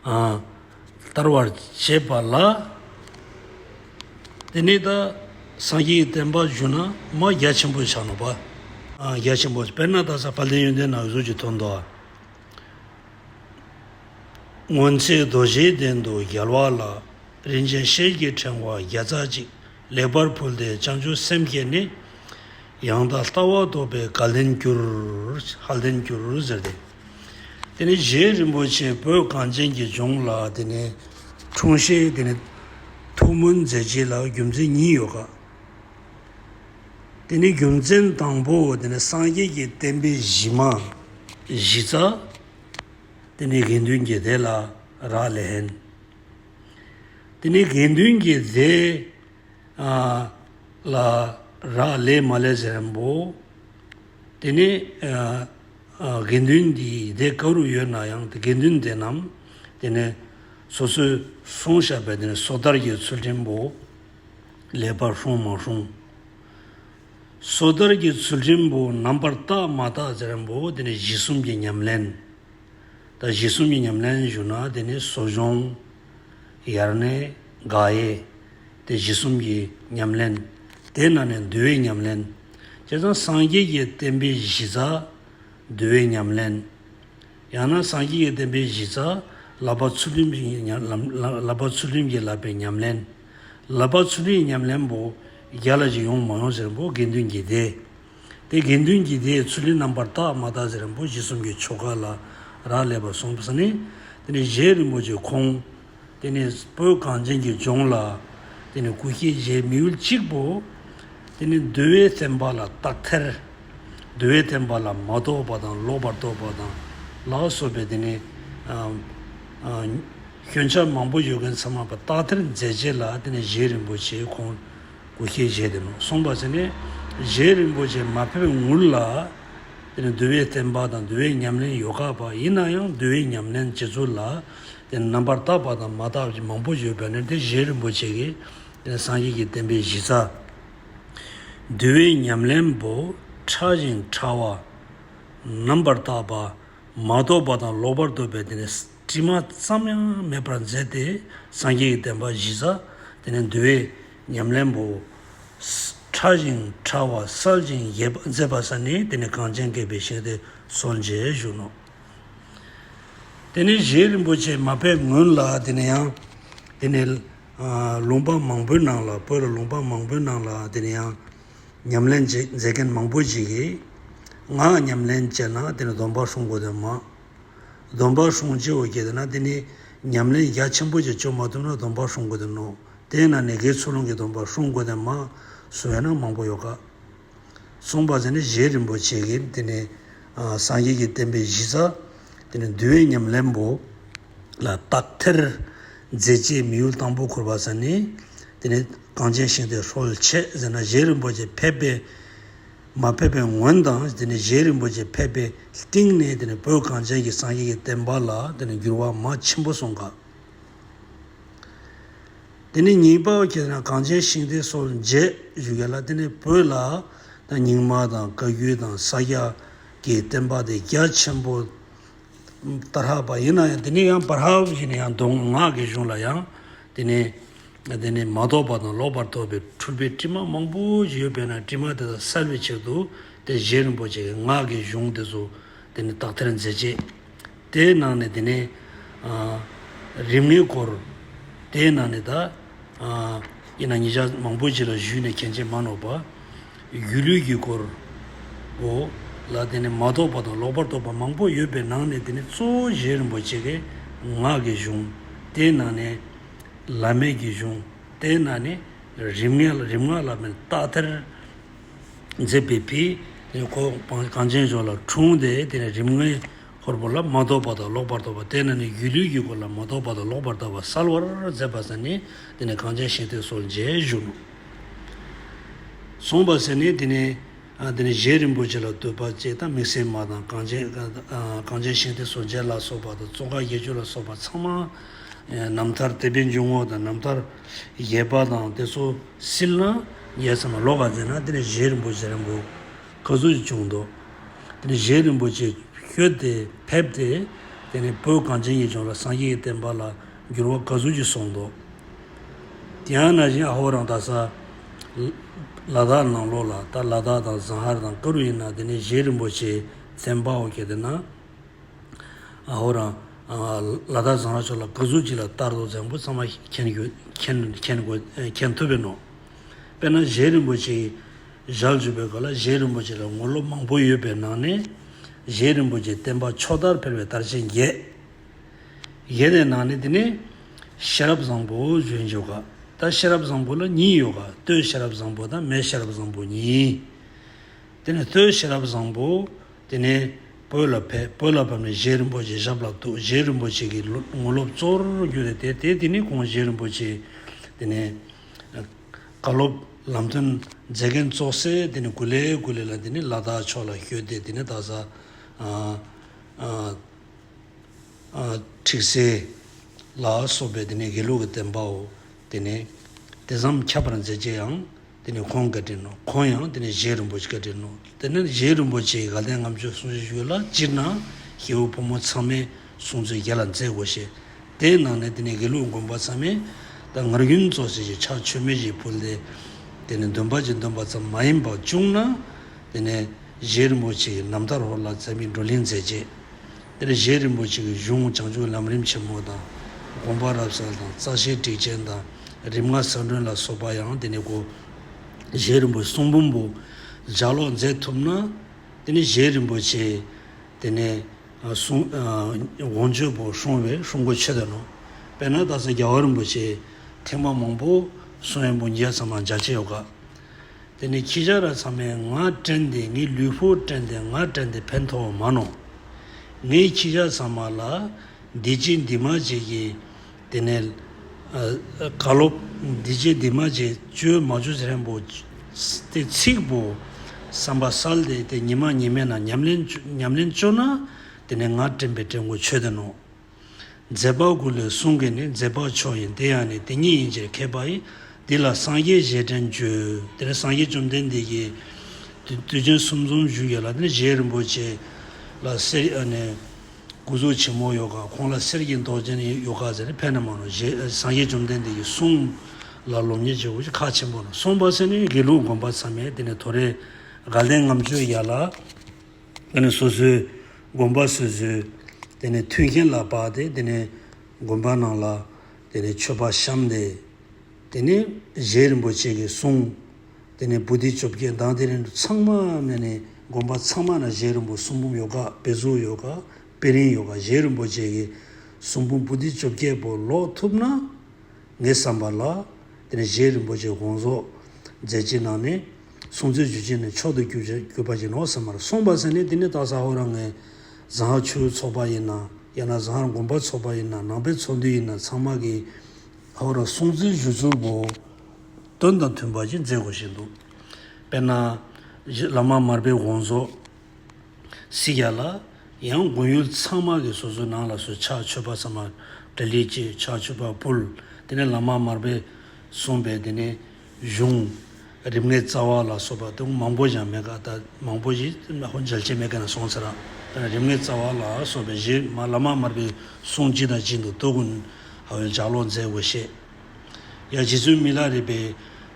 བསྟར་བར་བྱེད་པ་ལ། དེ་ནས་ད་སངས་རྒྱས་བསྟན་པ་བཞུགས་ན་མ་རྒྱ་ཆེན་པོ་བྱ་ནོ། བ་རྒྱ་ཆེན་པོ་དཔེར་ན་ད་ས་བྷ་ལའི་ཡོན་ཏན་ནང་གཟུགས་ཀྱི་དོན་དུ། སྔོན་ཚེ་རྡོ་རྗེའི་གདན་དུ་རྒྱལ་བ་ལ་རིན་ཆེན་ཤེལ་གྱི་ཕྲེང་བ་བརྒྱ་རྩ་གཅིག་ལེགས་པར་ཕུལ་ཏེ་བྱང་ཆུབ་སེམས་བསྐྱེད་ནས། ཡང་དག་ལྟ་བ་རྟོགས་པའི་ག་ལེན་གྱུར། ཧ་ལེན་གྱུར་ཟེར་ཏེ། དེ་ནས་རྗེ་རིན་པོ་ཆེ་བོད་གངས་ཅན་གྱི་ལྗོངས་ལ་དེ་ནས་འཁྲུངས་ཤིང་དེ་ནས་ཐུགས་སྨོན་མཛད་རྗེས་ལ་རྒྱུ་མཚན་གཉིས་ཡོད་ཀ། དེ་ནས་རྒྱུ་མཚན་དང་པོ་དེ་ནས་སངས་རྒྱས་ཀྱི་བསྟན་པའི་གཞི་མ། གཞི་རྩ། དེ་ནས་དགེ་འདུན་གྱི་སྡེ་ལ་རག་ལན། དེ་ནས་དགེ་འདུན་གྱི་སྡེ་ལ་རག་ལས་མ་ལས་ཟེར་རིན་པོ། དེ་ནས་དགེ་འདུན་གྱི་སྡེ་ག་རུ་ཡོད་ན་ཡང་དགེ་འདུན་སྡེ་རྣམས་དེ་ནས་སོ་སོའི་སོང་བཞག་པའི་དེ་སོ་ཐར་གྱི་ཚུལ་ཁྲིམས་པོ་ལས་པར་ལྷུང་མ་ལྷུང། སོ་ཐར་གྱི་ཚུལ་ཁྲིམས་པོ་རྣམ་པར་བརྟག་མ་བརྟག་ཚུལ་ཁྲིམས་པོ་དེ་ནས་གཞི་གསུམ་གྱི་ཉམས་ལེན། ད་གཞི་གསུམ་གྱི་ཉམས་ལེན་ཞུ་ན་དེ་ནས་གསོ་སྦྱོང། ཡར་ནི་དགག་དབྱེ། དེ་གཞི་གསུམ་གྱི་ཉམས་ལེན། དེ་ན་ནི་འདུལ་བའི་ཉམས་ལེན། བྱས་ཙང་སངས་རྒྱས་ཀྱི་བསྟན་པའི་གཞི་རྩ། འདུལ་བའི་ཉམས་ལེན། ཡང་ན་སངས་རྒྱས་ཀྱི་བསྟན་པའི་གཞི་རྩ། ལག་པ་ཚུལ་ཁྲིམས་ཀྱི་བསླབ་པའི་ཉམས་ལེན། བསླབ་པ་ཚུལ་ཁྲིམས་ཀྱི་ཉམས་ལེན་པོ། བརྒྱ་ལ་ཅི་ཡོང་མ་ཡོང་ཟེར་བོ་དགེ་འདུན་གྱི་སྡེ། དེ་དགེ་འདུན་གྱིས་དེའི་ཚུལ་ནི་རྣམ་པར་དག་མ་དག་ཅིང་རིན་པོ་ཆེ་གསུམ་གྱི་ཆོ་ག་ལ་རག་ལས་པར་གསུངས་པས་ནི། དེ་ནི་གཞན་རིན་པོ་ཆེ་ཁོང། དེ་ནི་སྤོས་གངས་ཅན་གྱི་ལྗོངས་ལ། དེ་ནི་སྐུ་སྐྱེ་རྗེའི་མི་ཡུལ་གཅིག་པོ། དེ་ནི་འདུལ་བའི་བསྟན་པ་ལ་རྟག་ཐལ། འདུལ་བའི་བསྟན་པ་ལ་མ་རྟོགས་པ་དང་ལོག་པར་རྟོགས་པ་དང་ལ་སོགས་པའི་དེ་ནི། སྐྱོན་ཆ་མང་པོ་ཡོད་མཁན་ཚང་མ་པ་རྟག་ཐལ་མཛད་བྱས་ལ་དེ་ནི་གཞན་རིན་པོ་ཆེ་ཁོང། དགུ་སྐྱེས་རྗེས་དེ་ནས་སོང་པ་ཚེ་ནས་རྗེ་རིན་པོ་ཆེ་མ་ཕེབས་ངུར་ལ། དེ་ནས་འདུལ་བའི་བསྟན་པ་དང་འདུལ་བའི་ཉམས་ལེན་ཡོ་ག་པ་ཡིན་ན་ཡང་འདུལ་བའི་ཉམས་ལེན་བྱེད་ཚུལ་ལ་དེ་ནས་རྣམ་པར་བརྟགས་པ་དང་མ་བརྟགས་པ་མང་པོ་ཡོད་པས་ན་དེ་རྗེ་རིན་པོ་ཆེ་གིས་དེ་ནས་སངས་རྒྱས་ཀྱི་བསྟན་པའི་གཞི་རྩ། འདུལ་བའི་ཉམས་ལེན་པོ་ཕྲ་ཞིང་ཕྲ་བ། རྣམ་པར་བརྟགས་པ། མ་རྟོགས་པ་དང་ལོག་པར་རྟོག་པའི་དེ་ནས། དྲི་མ་ཙམ་ཡང་མེད་པར་མཛད་དེ་སངས་རྒྱས་ཀྱི་བསྟན་པ་གཞི་བཟའ། དེ་ནས་འདུལ་བའི་ཉམས་ལེན་པོ། ཕྲ་ཞིང་ཕྲ་བ་གསལ་ཅིང་རྒྱས་པར་མཛད་པ་ས་ནི་དེ་ནི་གངས་ཅན་བསྐལ་པའི་ཞིང་སྟེ་སོ་མཇལ་བཞུགས་ནོ། དེ་ནས་གཞན་རིན་པོ་ཆེ་མ་དཔལ་མགོན་ལ་དེ་ནས་ཡང། དེ་ནས་ལུང་པ་མང་པོའི་ནང་ལ་བོད་ལ་ལུང་པ་མང་པོའི་ནང་ལ་དེ་ནས་ཡང། ཉམས་ལེན་མཛད་མཁན་མང་པོ་ཞིག་གིས། ངའང་ཉམས་ལེན་བྱས་ན་དེ་ནས་སྡོམ་པ་ཧྲུལ་མགོ་དོན་མ། སྡོམ་པ་ཧྲོང་སྤྱི་བོར་སྐྱེས་འདུག་ན་དེ་ནི་ཉམས་ལེན་རྒྱ་ཆེན་པོ་ཅིག་བཅོ་མ་ཐུབ་ན་སྡོམ་པ་ཧྲོང་དགོས་དོན་ནོ། དེས་ན་ནི་གེ་ཚུལ་ལུང་གི་སྡོམ་པ་ཧྲོང་དགོས་དོན་མ་སུ་བས་ན་མང་པོ་ཡོད་ཀ། གསུངས་པ་ཚེ་ནི་བཞེས་རིན་པོ་ཆེ་གིས་དེ་ནི་སངས་རྒྱས་ཀྱི་བསྟན་པའི་གཞི་རྩ། དེ་ནི་འདུལ་བའི་ཉམས་ལེན་པོ། ལ་བརྟག་ཐེར། མཛད་རྗེས་མི་ཡུལ་དང་པོ་ཁུར་བ་ཚེ་ནི། དེ་ནི་གངས་ཅན་ཞིང་དེར་ཧྲོལ་ཆེ་ཟེར་ན་བཞེས་རིན་པོ་ཆེ་ཕེབས་པའི། མ་ཕེབས་པའི་ངོན་དང་རྗེ་རིན་པོ་ཆེ་ཕེབས་པའི་སྟེང་ནས་བོད་གངས་ཅན་གྱི་སངས་རྒྱས་ཀྱི་བསྟན་པ་ལ་འགྱུར་བ་མ་ཆེན་པོ་སོང་སྐབས། ཉིན་པར་གྱི་གངས་ཅན་ཤིང་རྟའི་སོ་མཇལ་བཞུགས་ཡ་ལ་བོད་ལ་རྙིང་མ་དང་བཀའ་བརྒྱུད་དང་ས་སྐྱ་ཀྱི་བསྟན་པ་དེ་རྒྱ་ཆེན་པོ། ཏཱ་རྷ་པ་ཡིན་ན་ཡང་དེ་ནས་ཡང་པཱ་རྷ་བཞིན་ཡང་མདོ་སྔགས་ཀྱི་གཞུང་ལ་ཡང་དེ་ནས་དེ་ནས་མ་རྟོགས་པ་དང་ལོག་པར་རྟོག་པའི་འཁྲུལ་པའི་དྲི་མ་མང་པོ་ཞིག་ཡོད་པས་ན་དྲི་མ་དེ་དག་བསལ་བའི་ཕྱིར་དུ་དེ་བཞིན་རིན་པོ་ཆེ་གི་སྔགས་ཀྱི་གཞུང་དེ་ཚོ་དེ་ནས་དག་ཐེར་མཛད། ཅེས་དེའི་ནང་ནས་དེ་ནས་རིམ་ལྔའི་སྐོར། དེའི་ནང་ནས་ད་ཨ་ཡིན་ན་ཉིས་ཆ་མང་པོ་ཞིག་ལ་བཞུགས་ནས་མཁན་ཆེན་མ་ནོར་བ། སྒྱུ་ལུས་ཀྱི་སྐོར། འོ། ལ་དེ་ནི་མ་རྟོགས་པ་དང་ལོག་པར་རྟོགས་པ་མང་པོ་ཡོད་པའི་ནང་ནས་དེ་ནི་གཙོ་བོ་རྗེ་རིན་པོ་ཆེ་ཀའི་ངག་གི་གཞུང། དེའི་ནང་ནས། བླ་མེད་ཀྱི་གཞུང། དེའི་ནང་ནས། རིམ་ངེས་རིམ་ངག་ལ་མི་རྟག་ཐེར། འཛིན་པའི་བི། ནི་གོ། གངས་ཅན་ལྗོངས་ལ་འཁྲུངས་ཏེ་དེ་ནི་རིམ་ངེས། ཧོར་པོ་ལ་མ་རྟོགས་པ་དང་ལོག་པར་རྟོགས་པ་དེ་ནི་ནི་སྒྱུ་ལུས་ཀྱི་སྐོར་ལ་མ་རྟོགས་པ་དང་ལོག་པར་རྟོགས་པ་གསལ་བར་མཛད་པ་ས་ནི་དེ་ནི་གངས་ཅན་ཞིང་སྟེང་སོགས་མཇལ་བཞུགས། གསུངས་པ་ཟེར་ནས་དེ་ནས་དེ་ནས་བཞེད་རིན་པོ་ཆེ་ལ་འདུད་པ་ཅེས་དང་མིག་སེར་མ་དང་གངས་ཅན་གངས་ཅན་ཤིང་རྟའི་ཟོར་འཇལ་ལ་སོགས་པ་དང་ཙོང་ཁ་བརྒྱད་ཅུ་ལ་སོགས་པ་ཚང་མ་རྣམ་ཐར་དད་པའི་འཇུག་ངོགས་དང་རྣམ་ཐར་བཞེད་པ་དང་དེ་ཚོ་སིལ་ན་ཡས་ཚང་མ་ལོག་ག་མཛད་ན་དེ་ནས་བཞེད་རིན་པོ་ཆེ་རིན་པོ་ཁ་གཟུགས་ཀྱི་བྱུང་དོ། དེ་ནས་བཞེད་རིན་པོ་ཆེ་བཤོལ་ཏེ་ཕེབས་ཏེ་དེ་ནས་བོད་གངས་ཅན་ཡིད་འབྱུང་ལ་སངས་རྒྱས་ཀྱི་བསྟན་པ་ལ་འགྱུར་བ་ཁ་གཟུགས་ཀྱིས་གསུངས་དོ། དེའང་ན་གཞོན་ཨ་ཧོ་རང་དག་ས། ལ་དྭགས་ནང་ལོགས་ལ་ད་ལ་དྭགས་དང་བཟང་ཧར་དང་ཀ་རུ་ཡིན་ན་དེ་ནས་གཞན་རིན་པོ་ཆེའི་མཚན་པའོ་སྐད་དེ་ན། ཨ་ཧོ་རང། ལ་དྭགས་བཟང་ཧར་ཕྱོགས་ལ་ག་ཟུག་ཅིག་ལ་ལྟར་དོ་བཟང་པོ་ཚང་མ་མཁྱེན་མཁྱེན་ཐུབ་པའི་ནོ། དཔེར་ན་གཞན་རིན་པོ་ཆེའི་ཞག་བཅུ་པའི་སྐབས་ལ་གཞན་རིན་པོ་ཆེ་ལ་ངོ་ལོ་མང་པོ་ཡོད་པའི་ནང་ནས། གཞན་རིན་པོ་ཆེའི་བསྟན་པ་ཕྱོགས་མཐར་འཕེལ་བའི་དར་ཆེན་བརྒྱད། གཞན་ནས་ནང་ནས་དེ་ནས། ཤེས་རབ་བཟང་པོ་བརྗོད་འཇུག་ག། ད་ཤེས་རབ་བཟང་པོ་ལ་གཉིས་ཡོད་ག། ལྟོས་ཤེས་རབ་བཟང་པོ་དང་མེད་ཤེས་རབ་བཟང་པོ་གཉིས། དེ་ནས་ལྟོས་ཤེས་རབ་བཟང་པོ། དེ་ནས། བོད་ལ་ཕེབས། བོད་ལ་བབས་ནས་གཞན་རིན་པོ་ཆེའི་ཞབས་ལ་གཏུགས། གཞན་རིན་པོ་ཆེ་གི་ངོ་སློབ་གཙོ་བོར་གྱུར་ནས་དེ་དེ་དེ་ནས་གོང་གཞན་རིན་པོ་ཆེ། དེ་ནས། བཀའ་སློབ་ལམ་སྟོན་མཛད་མཁན་གཙོ་སེ་དེ་ནས་གུ་ལའི་གུ་ལས་ལ་དེ་ནས་ལ་དྭགས་ཕྱོགས་ལ་བཞུད་དེ་དེ་ནས་དྭགས་ས། ཁྲིག་སེ། ལ་སོགས་པའི་དེ་ནས་དགེ་ལུགས་ཀྱི་བསྟན་པའོ། དེ་ནས་དེ་བསམ་ཁྱབ་པར་མཛད་རྗེས་ཡང་དེ་ནས་ཁོང་བཀའ་དྲིན་ནོ། ཁོང་ཡང་དེ་ནས་བཞེས་རིན་པོ་ཆེ་བཀའ་དྲིན་ནོ། དེ་ནས་བཞེས་རིན་པོ་ཆེའི་དགའ་ལྡན་ངམ་ཆོས་གསུང་བྱེད་ཞུས་ལ་སྤྱིར་ན་ཞེའུ་ཕོ་མོ་ཚང་མས་གསུང་ཚུལ་རྒྱ་ལ་མཛད་དགོས་ཞེས། དེའི་ནང་ནས་དེ་ནས་དགེ་ལུགས་མགོན་པོ་ཚང་མས་ད་ངར་ཡུན་རྫོགས་བྱེད་ཅིག་ཕྱག་མཆོད་མེ་བཞིན་ཕུལ་ཏེ། དེ་ནས་འདོན་པ་ཅིག་འདོན་པ་ཙམ་མ་ཡིན་པར་བཅུག་ན། དེ་ནས། གཞས་རིན་པོ་ཆེའི་ནམ་ཟླ་རོ་ལ་མཛད་མིའི་བགྲོ་གླེང་མཛད་རྗེས། དེར་གཞས་རིན་པོ་ཆེ་གི་གཞུང་བྱང་ཆུང་ལམ་རིམ་ཆེན་མོ་དང། དགོངས་པ་རབ་གསལ་དང་རྩ་ཤེའི་སྒྲིག་ཆེན་དང་རིམ་ལྔ་གསང་སྒྲོན་ལ་སོགས་པ་ཡང་དེ་ནས་གོ། གཞས་རིན་པོའི་གསུང་འབུམ་པོ་ལྗགས་ཀློག་མཛད་ཐུབ་ན། དེ་ནི་གཞས་རིན་པོ་ཆེའི་དེ་ནས་གསུང། དགོངས་སྤྱོད་པོ་ཧྲུང་བའི་ཧྲུང་གོ་ཆོད་དོན་ནོ། དཔེར་ན་ད་གཟོད་རྒྱལ་བ་རིན་པོ་ཆེའི་ཐེག་པ་མང་པོ་གསུང་ཡོན་པོ་འགྱེད་ཙམ་ལའང་རྒྱ་ཆེ་ཡོད་དཀའ། དེ་ནས་ཁྱི་སྤྱང་ར་ཚང་མས་ང་བཀྲེན་ཏེ་ངའི་ལུས་པོ་བཀྲེན་ཏེ་ང་བཀྲེན་ཏེ་ཕན་ཐོགས་མ་གནང། ངས་ཁྱི་སྤྱང་ཚང་མ་ལ་འདི་བྱེད་འདི་མ་བྱེད་ཀྱིས་དེ་ནས། ག་ལོ། འདི་བྱེད་འདི་མ་བྱེད་བཅོས་མ་བཅོས་ཚན་པོ། སྟེ་ཚིག་པོ། བསམ་པ་གསལ་ཏེ་དེ་ཉི་མ་ཉི་མས་ན་ཉམས་ལེན་བཅོས་ན་དེ་ནས་ང་བཀྲེན་པའི་བཀྲེན་ཁོ་ཆོད་ལྡན་ནོ། རྫས་དཔག་དགུ་ལས་གསུང་གི་ནི་རྫས་དཔག་མཆོག་ཡིན་དེ་ཡང་ནི་དེ་ཉིད་ཡིན་ཕྱིར་མཁས་པ་ཡི། འདི་ལ་སངས་རྒྱས་བཞེད་དྲན་བརྗོད། དེ་ནས་སངས་རྒྱས་བཅོམ་ལྡན་འདས་ཀྱིས། དུས་ཆེན་གསུམ་འཛོམ་བཞུགས་ཡོད་ལ་དེ་ནས་གཞན་རིན་པོ་ཆེ། ལ་གསེར་གྱི་ནི། སྐུ་གཟུགས་ཆེན་མོ་ཡོ་ག་ཁོང་ལ་གསེར་གྱི་མདོག་ཅན་ཡོ་ག་ཟེར་ནས་ཕེབས་ན་མ་རུང་ཞེས་སངས་རྒྱས་བཅོམ་ལྡན་འདས་ཀྱིས་གསུངས། ལ་ལོ་ཉེས་བྱས་བུ་ཆེ་ཁ་ཆེན་པོ་ལ་སོང་བ་སེ་ནི་དགེ་ལུགས་དགོན་པར་མཚམས་མེད་དེ་ནས་དོ་རེ། དགའ་ལྡན་ངམ་ཆོས་ཡ་ལ། དེ་ནས་སོ་སོའི་དགོན་པ་སོ་སོའི་དེ་ནས་མཐུན་རྐྱེན་ལ་བབས་ཏེ་དེ་ནས་དགོན་པ་ནང་ལ་དེ་ནས་མཆོད་པ་བཤམས་ཏེ། དེ་ནས་གཞན་རིན་པོ་ཆེ་གི་གསུང། དེ་ནས་བུ་སྡིག་བཅོ་བརྒྱད་མདངས་དེ་རིང་ཚང་མ་ནས་ནས་དགོན་པ་ཚང་མ་ན་གཞན་རིན་པོ་གསུང་འབུམ་ཡོ་ག་དཔེ་གཟུགས་ཡོ་ག་དཔེ་རིན་ཡོ་ག་གཞན་རིན་པོ་ཆེ་གི་གསུང་འབུམ་བུ་སྡིག་བཅོ་བརྒྱད་པོ་ཀློག་ཐུབ་ན། ངས་བསམ་པ་ལ། དེ་ནས་རྗེ་རིན་པོ་ཆེས་དགོངས་རྫོགས་མཛད་རྗེས་གནང་ནས། གསུང་ཚིག་བརྗོད་རྗེས་ནས་མཆོག་ཏུ་གྱུར་པ་བཞིན་ནོ་ཟེར་མར་གསུངས་པ་ཟེར་ནས་དེ་ནི་སྟག་ཟ་ཧོར་ར་ངའི་ཟངས་ཧར་ཆུའི་ཚོགས་པ་ཡིན་ན་ཡང་ན་ཟངས་ཧར་དགོན་པ་ཚོགས་པ་ཡིན་ན་ནང་པའི་ཚོགས་འདུས་ཡིན་ན་ཚང་མ་གི་ཧོར་ར་གསུང་ཚིག་བཞུགས་ཚུལ་བོ། དོན་དང་མཐུན་པ་ཞིག་མཛད་དགོས་བཞིན་འདུག་དཔེར་ན། བླ་མ་མར་པའི་དགོངས་རྫོགས་སི་ཀྱ་ལ། ཡང་དགོན་ཡུལ་ཚང་མ་གི་སོ་སོའི་ནང་ལ་སོའི་ཕྱག་མཆོད་པ་ཚང་མར་དགྲ་ལི་ཅི་ཕྱག་མཆོད་པ་ཕུལ། དེ་ནས་ལམ་མ་མར་པས་གསུངས་པའི་དེ་ནས་གཞུང། རིམ་ལྔའི་རྩ་བ་ལ་སོགས་པ་དེ་མང་པོ་ཞིག་མེད་ཀ་ད་མང་པོ་ཞིག་ཧོ་འཇལ་བྱེད་མེད་ཀ་ན་སོང་ཚེ་རང་དང་རིམ་ལྔའི་རྩ་བ་ལ་སོགས་པའི་གཞི་ལམ་མ་མར་པས་གསུངས་ཅི་དང་ཅི་འདུག་སྟོད་དགོན་ཧ་ཝེལ་ལྗགས་ཀློག་མཛད་དགོས་ཤེས། ཡང་རྗེ་བཙུན་མི་ལ་རས་པས་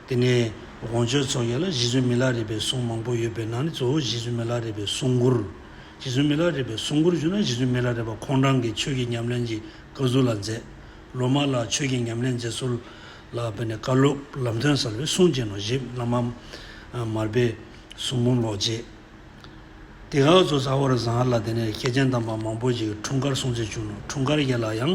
དེ་ནས་དགོངས་སྤྱོད་ཚོགས་བརྒྱ་ལ་རྗེ་བཙུན་མི་ལ་རས་པའི་གསུང་མང་པོ་ཡོད་པའི་ནང་ནས་གཙོ་བོ་རྗེ་བཙུན་མི་ལ་རས་པའི་གསུང་མགུར། རྗེ་བཙུན་མི་ལ་རས་པའི་གསུང་མགུར་བཞུགས་ན་རྗེ་བཙུན་མི་ལ་རས་པ་ཁོང་རང་གིས་ཆོས་ཀྱི་ཉམས་ལེན་གྱི་བཀའ་ཟུར་ལ་མཛད། ལོ་མ་ལ་ཆོས་ཀྱི་ཉམས་ལེན་མཛད་ཟུར་ལ་བས་ནས་བཀའ་སློབ་ལམ་སྟོན་གསར་པའི་གསུང་རྗེ་ནོར་བཞི་བླ་མ་མར་པའི་གསུང་འབུམ་ལོག་རྗེས། དེ་ག་གཙོ་ཚ་བར་བཟང་ལ་དེ་ནས་མཁས་ཆེན་དམ་པ་མང་པོ་ཞིག་འཁྲུངས་སྐར་སྲུང་བརྩི་བྱུང་ལོ་འཁྲུངས་སྐར་བརྒྱད་ལ་ཡང་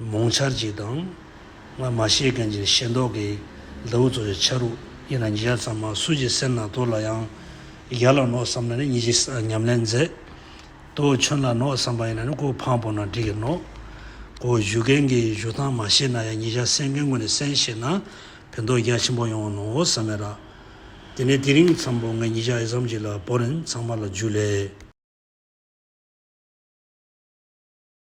མོང་ཆར་གྱིས་དང། སྔར་མ་ཤེས་མཁན་གྱི་ཤེས་མདོག་གིས། མདའ་བུ་ཚོ་ཡི་ཆ་རུ་ཡིན་ན་ཉིས་བརྒྱ་ཙམ་མ་སུ་ཀྱི་སེམས་ནང་དོར་ལ་ཡང། ཡར་ལ་ནོག་བསམ་ན་ནི་ཉིས་བརྒྱ་ཉམས་ལེན་མཛད། དོ་ཁྱོད་ལ་ནོག་བསམ་པ་ཡིན་ན་ནི་གོ་འཕང་སྤོ་ན་འགྲིག་གི་ནོག་གོ། བཞུགས་མཁན་གྱི་བཞུགས་སྟངས་མ་ཤེས་ན་ཡང་ཉིས་བརྒྱ་གསན་མཁན་ངོས་ནས་གསན་ཤེས་ན་ཕན་ཐོགས་རྒྱ་ཆེན་པོ་ཡོང་ནོ་བསམ་མེད་ར། དེ་ནས་དེ་རིང་འཚམས་པོ་ངས་ཉིས་བརྒྱ་ཨེ་བསམ་གྱིས་ལ་བོར་རིན་ཚང་མ་ལ་འཇུ་ལས།